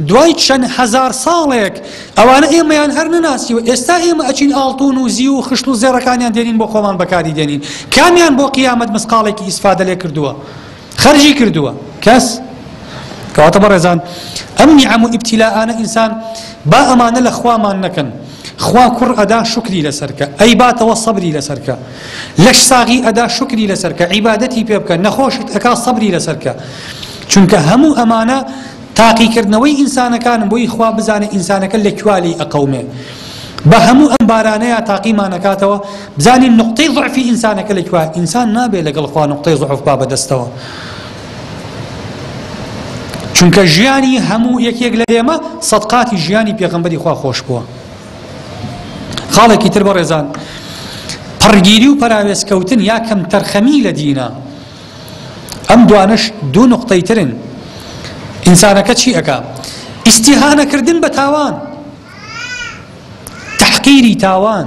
دوای چەند هەزار ساڵێک ئەوانە ئێمەیان هەر نەناسی و ئێستا ئێمە ئەچین ئاڵتون و زی و خشت و زێڕەکانیان دێنین بۆ خۆمان بەکاری دێنین کامیان بۆ قیامەت مسقاڵێکی ئیسفادە لێ کردووە خەرجی کردووە کەس کەواتە بەڕێزان ئەم نیعەم و ئیبتیلاانە ئینسان با ئەمانە لە خوامان نەکەن خوا کوڕ ئەدا شوکری لەسەر کە ئەیباتەوە سەبری لەسەر کە لەش ساغی ئەدا شوکری لەسەر کە عیبادەتی پێ بکە نەخۆشت ئەکا سەبری لەسەر کە چونکە هەموو ئەمانە تاقیکردنەوەی ئینسانەکانم بۆی خوا بزانێت ئینسانەکە لە کوالی ئەقەومێ بە هەموو ئەم بارانەیە تاقیمانەکاتەوە بزانین نقطەی ضعفی ئینسانەکە لە کوا ئینسان نابێت لەگەڵ خوا نقطەی ضعف با بەدەستەوە چونکە ژیانی هەموو یەکێک لە ئێمە سەد قاتی ژیانی پێغەمبەری خوا خۆش بووە خاڵێکی تر بە ڕێزان پڕگیری و پەراوێزکەوتن یا کەم تەرخەمی لە دینە ئەم دوانش دوو نقطەی ترن ئینسانەکە چی ئەک ئیسیهانەکردن بە تاوان تحقیری تاوان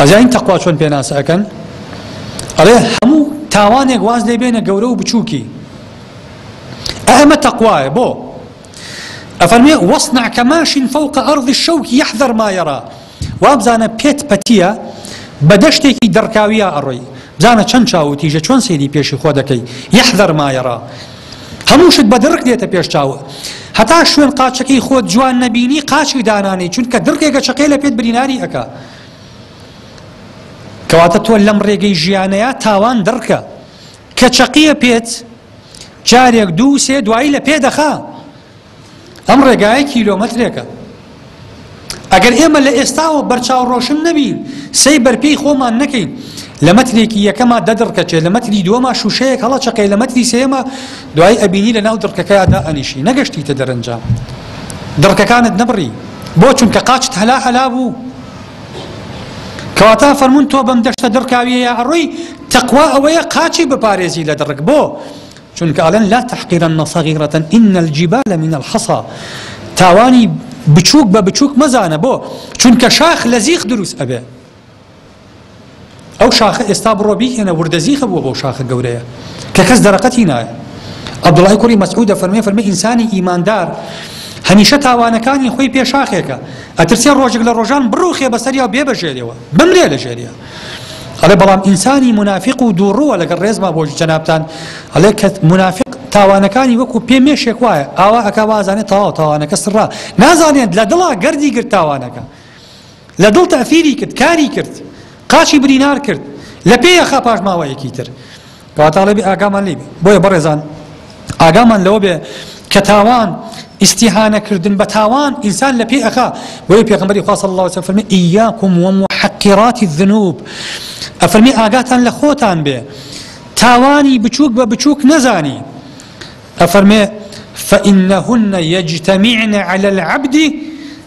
ئەزانین تەقوا چۆن پێناسە ئەکەن ئەڵێ هەموو تاوانێک واز لێ بێنە گەورە و بچووکی ئەمە تەقوایە بۆ ئەفەرمێ وەصنع کەماشین فوق ئەرض الشوک یحذر ما یرا وابزانە پێت پەتیە بە دەشتێکی دڕکاویە ئەڕۆی بزانە چەند چاو و تیژە چۆن سەیری پێشی خۆ دەکەی یحذر ما یرا هەموو شت بە دڕک دێتە پێش چاوت هەتا شوێن قاچەکەی خۆت جوان نەبینی قاچی دانانێی چونکە دڕکێکە چەقێ لە پێت بریناری ئەکا کەواتە تۆ لەم ڕێگەی ژیانەیە تاوان دڕکە کە چەقیە پێت جارێک دوو سێ دوایی لە پێ دەخا ئەم ڕێگایە کیلۆمەترێکە. ئەگەر ئێمە لە ئێستاوە بەرچاو ڕۆشن نەبین، سەی بەرپێی خۆمان نەکەین، لە مەترێکی یەکەما دە دڕکەچێ، لە مەتری دووەما شووشەیەک هەڵەچەقێ، لە مەتری سێیەما دوایی ئەبینی لە ناو دڕکەکەیا دائەنیشی، نەگەشتیتە دەرەنجام. دڕکەکانت نەبڕی. بۆ؟ چونکە قاچت هەلا هەلا بوو. کەواتە فەرموون تۆ بەم دەشتە دڕکاوییەیا ئەڕۆی، تەقوا ئەوەیە قاچی بپارێزی لە دڕک. بۆ؟ چونکە ئەڵێن لا تحقرن صغیرە ان الجبال من الحصا تاوانی بچووک بە بچووک مەزانە بۆ چونکە شاخ لە زیخ دروست ئەبێ ئەو شاخە ئێستا بڕۆ بیکەنە وردە زیخە بووە بۆ شاخە گەورەیە کە کەس دەرەقەتی نایە عبدوڵای کوڕی مەسعودە فەرمی فەرمی ئینسانی ئیماندار هەمیشە تاوانەکانی خۆی پێشاخێکە ئەترسێ ڕۆژێک لە ڕۆژان بڕوخێ بەسەریا بێ بەژێریەوە بمرێ لە ژێریە ئەڵێ بەڵام ئینسانی مونافیق و دووڕووە لەگەڵ ڕێزما بۆ جەنابتان ئەڵێ کە مونافیق تاوانەکانی وەکو پێ مێشێک وایە ئاوا ئەکا وازانێت تەواو تاوانەکە سڕا نازانێت لە دڵا گەردی گرت تاوانەکە لە دڵ تەفیری کرد کاری کرد قاچی برینار کرد لە پێیەخا پاشماوەیەکی تر کەوا تاڵێ بێ ئاگامان لێی بێ بۆیە بەڕێزان ئاگامان لەوە بێ کە تاوان ئیستیهانە کردن بە تاوان ئینسان لە پێی ئەخا بۆیە پێغمبەری خوا صلی الله علیه و فەرمی ایاکم و محقرات الذنوب ئەفەرمی ئاگاتان لە خۆتان بێ تاوانی بچووک بە بچووک نەزانی ئەفەرمێ فإنهن يجتمعن على العبد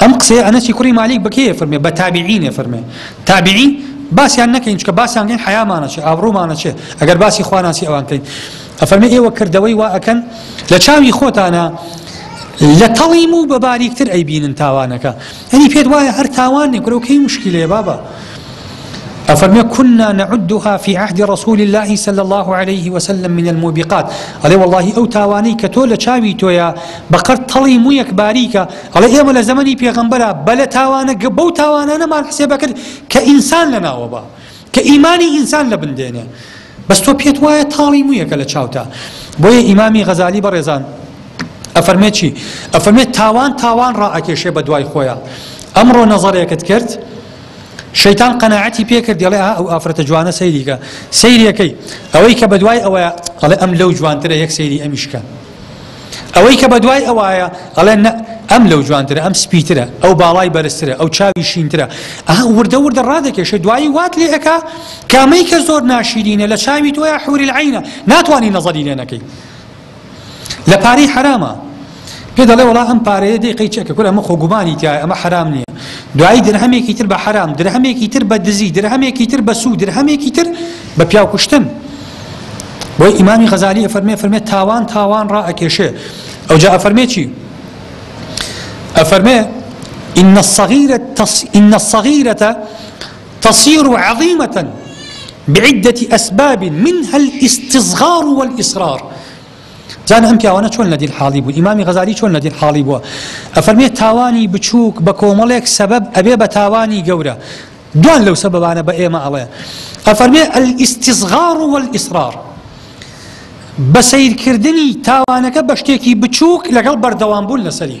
ئەم قسەیە ئەنەسی کوڕی مالیک بە کێیە فەرمێ بە تابعینێ فەرمێ تابعی باسیان نەکەین چکە باسیان کەین حیامانەچێ ئابڕوومانەچێ ئەگەر باسی خواناسی ئەوان کەین ئەفەرمێ ئێوە کردەوەی وا ئەکەن لە چاوی خۆتانە لە تەڵیم و بە باریکتر ئەیبینن تاوانەکە ئەنی پێت وایە هەر تاوانێک کرەوکەی مشکلەیە بابە ئەفەرمێ کنا نعدها فی عهد رسول اللە صلی اللە علیه وسلم من الموبقات ئەڵێ وەڵاهی ئەو تاوانەی کە تۆ لە چاوی تۆیە بە قەر تەڵی مویەک باریکە ئەڵێ ئێمە لە زەمەنی پێغەمبەرا بە لە تاوانە گە بەو تاوانانەمان حسێبەکرد کە ئینسان لە ناوە با کە ئیمانی ئینسان لە بندێنێ بەس تۆ پێت وایە تاڵی مویەکە لە چاوتا بۆیە ئیمامی غەزالی بەڕێزان ئەفەرمێت چی ئەفەرمێت تاوان تاوان ڕائەکێشێ بە دوای خۆیان ئەمڕۆ نەزەرێکت کرد شەیتان قەناعەتی پێکرد دەڵێ ئا ئەو ئافرەتە جوانە سەیریکە سەیرەکەی ئەوەی کە بەدوای ئەوەیە ئەڵێ ئەم لەو جوانترە یەک سەیری ئەمیشکە ئەوەی کە بەدوای ئەوایە ئەڵێ ئەم لەو جوانترە ئەم سپیترە ئەو باڵای بەرزترە ئەو چاوی شینترە ئەها وردە وردە ڕادێکێشە دوایی وات لێ ئەک کامەی کە زۆر ناشیرینە لە چاوی تۆە حوری عینە ناتوانانی نەزەری لێنەکەی لە پارەی حەرامە پێ دەڵێ وەڵا ئەم پارەیە دەی قەی چەکە کورە ئەمە خۆ گومانی تایە ئەمە حەرام نییە دوایی درهەمێکی تر بە حەرام درهەمێکی تر بە دزی درهەمێکی تر بە سوو درهەمێکی تر بە پیاو کوشتن بۆی ئیمامی غەزالی ئەفەرمێ فەرمێ تاوان تاوان ڕائەکێشێ ئەو جا ئەفەرمێ چی ئەفەرمێ إن الصغيرة تص... إن الصغيرة تصیر عظیمە بعدە اسباب منها الاستصغار والاصغار زانە ئەم پیاوانە چۆن لە دیل حاڵی بوو ئیمامی غەزالی چۆن لە دیل حاڵی بووە ئەفەرمێت تاوانی بچووک بە کۆمەڵێک سەبەب ئەبێ بە تاوانی گەورە دوان لەو سەبەبانە بە ئێمە ئەڵێ ئەفەرمێ ئەلیستیزغار و ئیسرار بە سیرکردنی تاوانەکە بە شتێکی بچووک لەگەڵ بەردەوام بوون لەسەری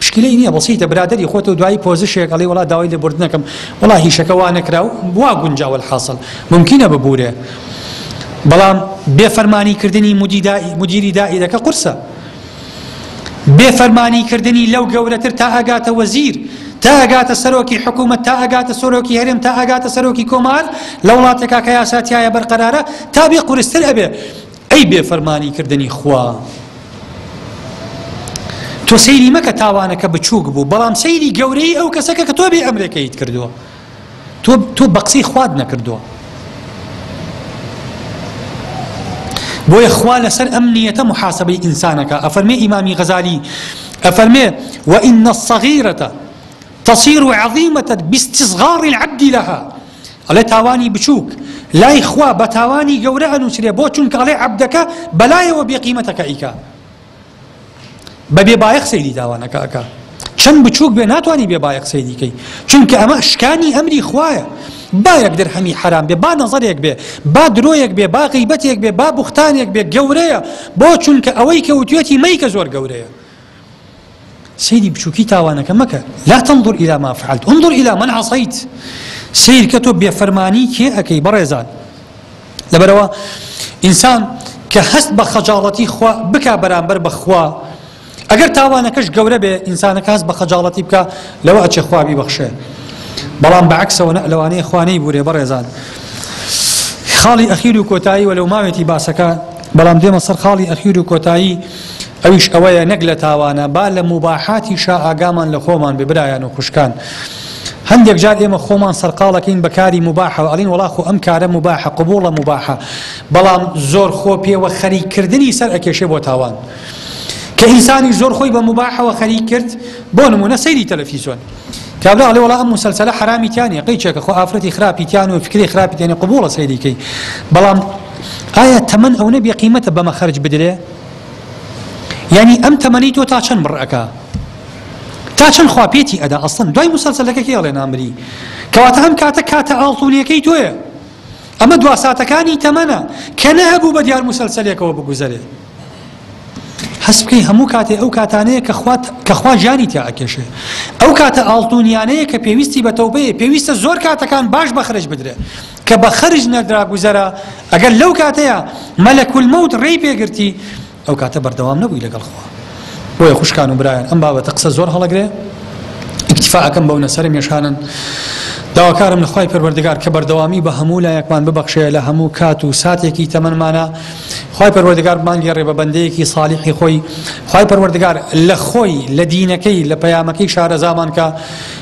پشکیلەی نیە بەسیتە برادەری خۆتو دوایی پۆزشێک ئەڵێی وەڵا داوای لێبوردنەکەم وەڵا هیشەکە وانەکرا و وا گونجا وەلحاسڵ مومکینە ببورێ بەڵام بێ فەرمانی کردنی مدیری دائیرەکە قورسە بێ فەرمانی کردنی لەو گەورەتر تا ئەگاتە وەزیر تا ئەگاتە سەرۆکی حکوومەت تا ئەگاتە سۆرۆکی هەرێم تا ئەگاتە سەرۆکی کۆمار لە وڵاتێکا کە یاساتایە بەرقەرارە تا بێ قورستر ئەبێ ئەی بێ فەرمانی کردنی خوا تۆ سەیری مەکە تاوانەکە بچووک بوو بەڵام سەیری گەورەی ئەو کەسەکە کە تۆ بێ ئەمرێکەیت کردووە تۆ تۆ بەقسی خوارد نەکردووە بۆیە خوا لەسەر ئەم نیەتە محاسبەی ئینسانەکە ئەفەرمێ ئیمامی غەزالی ئەفەرمێ وئینە الصغیرەتە تصير عظيمة باستصغار العبد لها ئەڵێ تاوانی بچوک لای خوا بە تاوانی گەورە ئەنووسرێ بۆ چونکە ئەڵێ عەبدەکە بەلایەوە بێقیمەتە کە ئیکا بە بێ بایەخ سەیری داوانەکە ئەکا چەند بچووک بێ ناتوانانی بێ بایەخ سەیریکەی چونکە ئەمە شکانی ئەمری خوایە با یەک درهەمی حرام بێ با نەزەرێک بێ با درۆیەک بێ با غیبەتێک بێ با بوختانێک بێ گەورەیە بۆ چونکە ئەوەی کە وتێتی مەیکە زۆر گەورەیە سەیری بچوکی تاوانەکە مەکە لا تنظر الى ما فعلت انظر الى من عصیت سیرکە تۆ بێفەرمانی کێ ئەەکەی بەڕێزان لەبەرەوە ئینسان کە هەست بە خەجاڵەتی خوا بکا بەرامبەر بەخوا ئەگەر تاوانەکەش گەورە بێ ئینسانەکە هەست بە خەجاڵەتی بکە لەوە ئەچێ خواوی بەخشێ بەڵام بەعکسەوە لەوانەیە خوانەی بورێ بەڕێزان خاڵی ئەخیر و کۆتایی وەلو ماوێتی باسەکە بەڵام دێمە سەر خاڵی ئەخیر و کۆتایی ئەویش ئەوەیە نەک لە تاوانە با لە موباحاتیشا ئاگامان لە خۆمان بێ برایان و خوشکان هەندێک جار ئێمە خۆمان سەرقاڵەکەین بە کاری موباحەوە ئەڵین وڵا خۆ ئەم کارە موباحە قبوڵە موباحە بەڵام زۆر خۆ پێوە خەریککردنی سەر ئەکێشێ بۆ تاوان کە ئینسانی زۆر خۆی بە موباحەوە خەریک کرد بۆ نمونە سەیری تەلەفیزۆن کابرا ئەڵێ وڵا ئەم مسلسلە حرامی تیانە قەی چێکە خۆ ئافرەتی خراپی تیان و فکری خراپی تێنێ قبوڵە سەیریکەی بەڵام ئایا تەمەن ئەو نەبێ قیمەتە بەمە خەرج بدرێ یانی ئەم تەمەنەی تۆ تا چەند بڕ ئەکا تا چەند خوا پێتی ئەدا ئەسڵەن دوای مسەلسەلەکە کێ ئەڵێ نامری کەواتە ئەم کاتە کاتە ئاڵتونیەکەی تۆیە ئەمە دوا ساتەکانی تەمەنە کە نەهەبوو بە دیار مسەلسەلێکەوە بگوزەرێ هەست بکەی هەموو کاتێ ئەو کاتانەیە کە خوات کە خوا ژانی تیا ئەکێشێ ئەو کاتە ئاڵتونیانەیە کە پێویستی بە تەوبەیە پێویستە زۆر کاتەکان باش بەخرج بدرێ کە بە خەرج نەدرا گوزەرە، ئەگەر لەو کاتەیا مەلەک الموت رێی پێ گرتی، ئەو کاتە بەردەوام نەبووی لەگەڵ خوا. بۆیە خوشکان و برایان ئەم بابەتە قسە زۆر هەڵەگرێ، ئیکتیفا ئەکەم بەو نەسەرە مێشانەن، داواکارم لە خوای پەروەردگار کە بەردەوامی بە هەموو لایەکمان ببەخشێ لە هەموو کات و ساتێکی تەمەنمانا، خوای پەروەردگار بمانگێڕێ بە بەندەیەکی صالیحی خۆی، خوای پەروەردگار لە خۆی، لە دینەکەی، لە پەیامەکەی شارەزامان کا.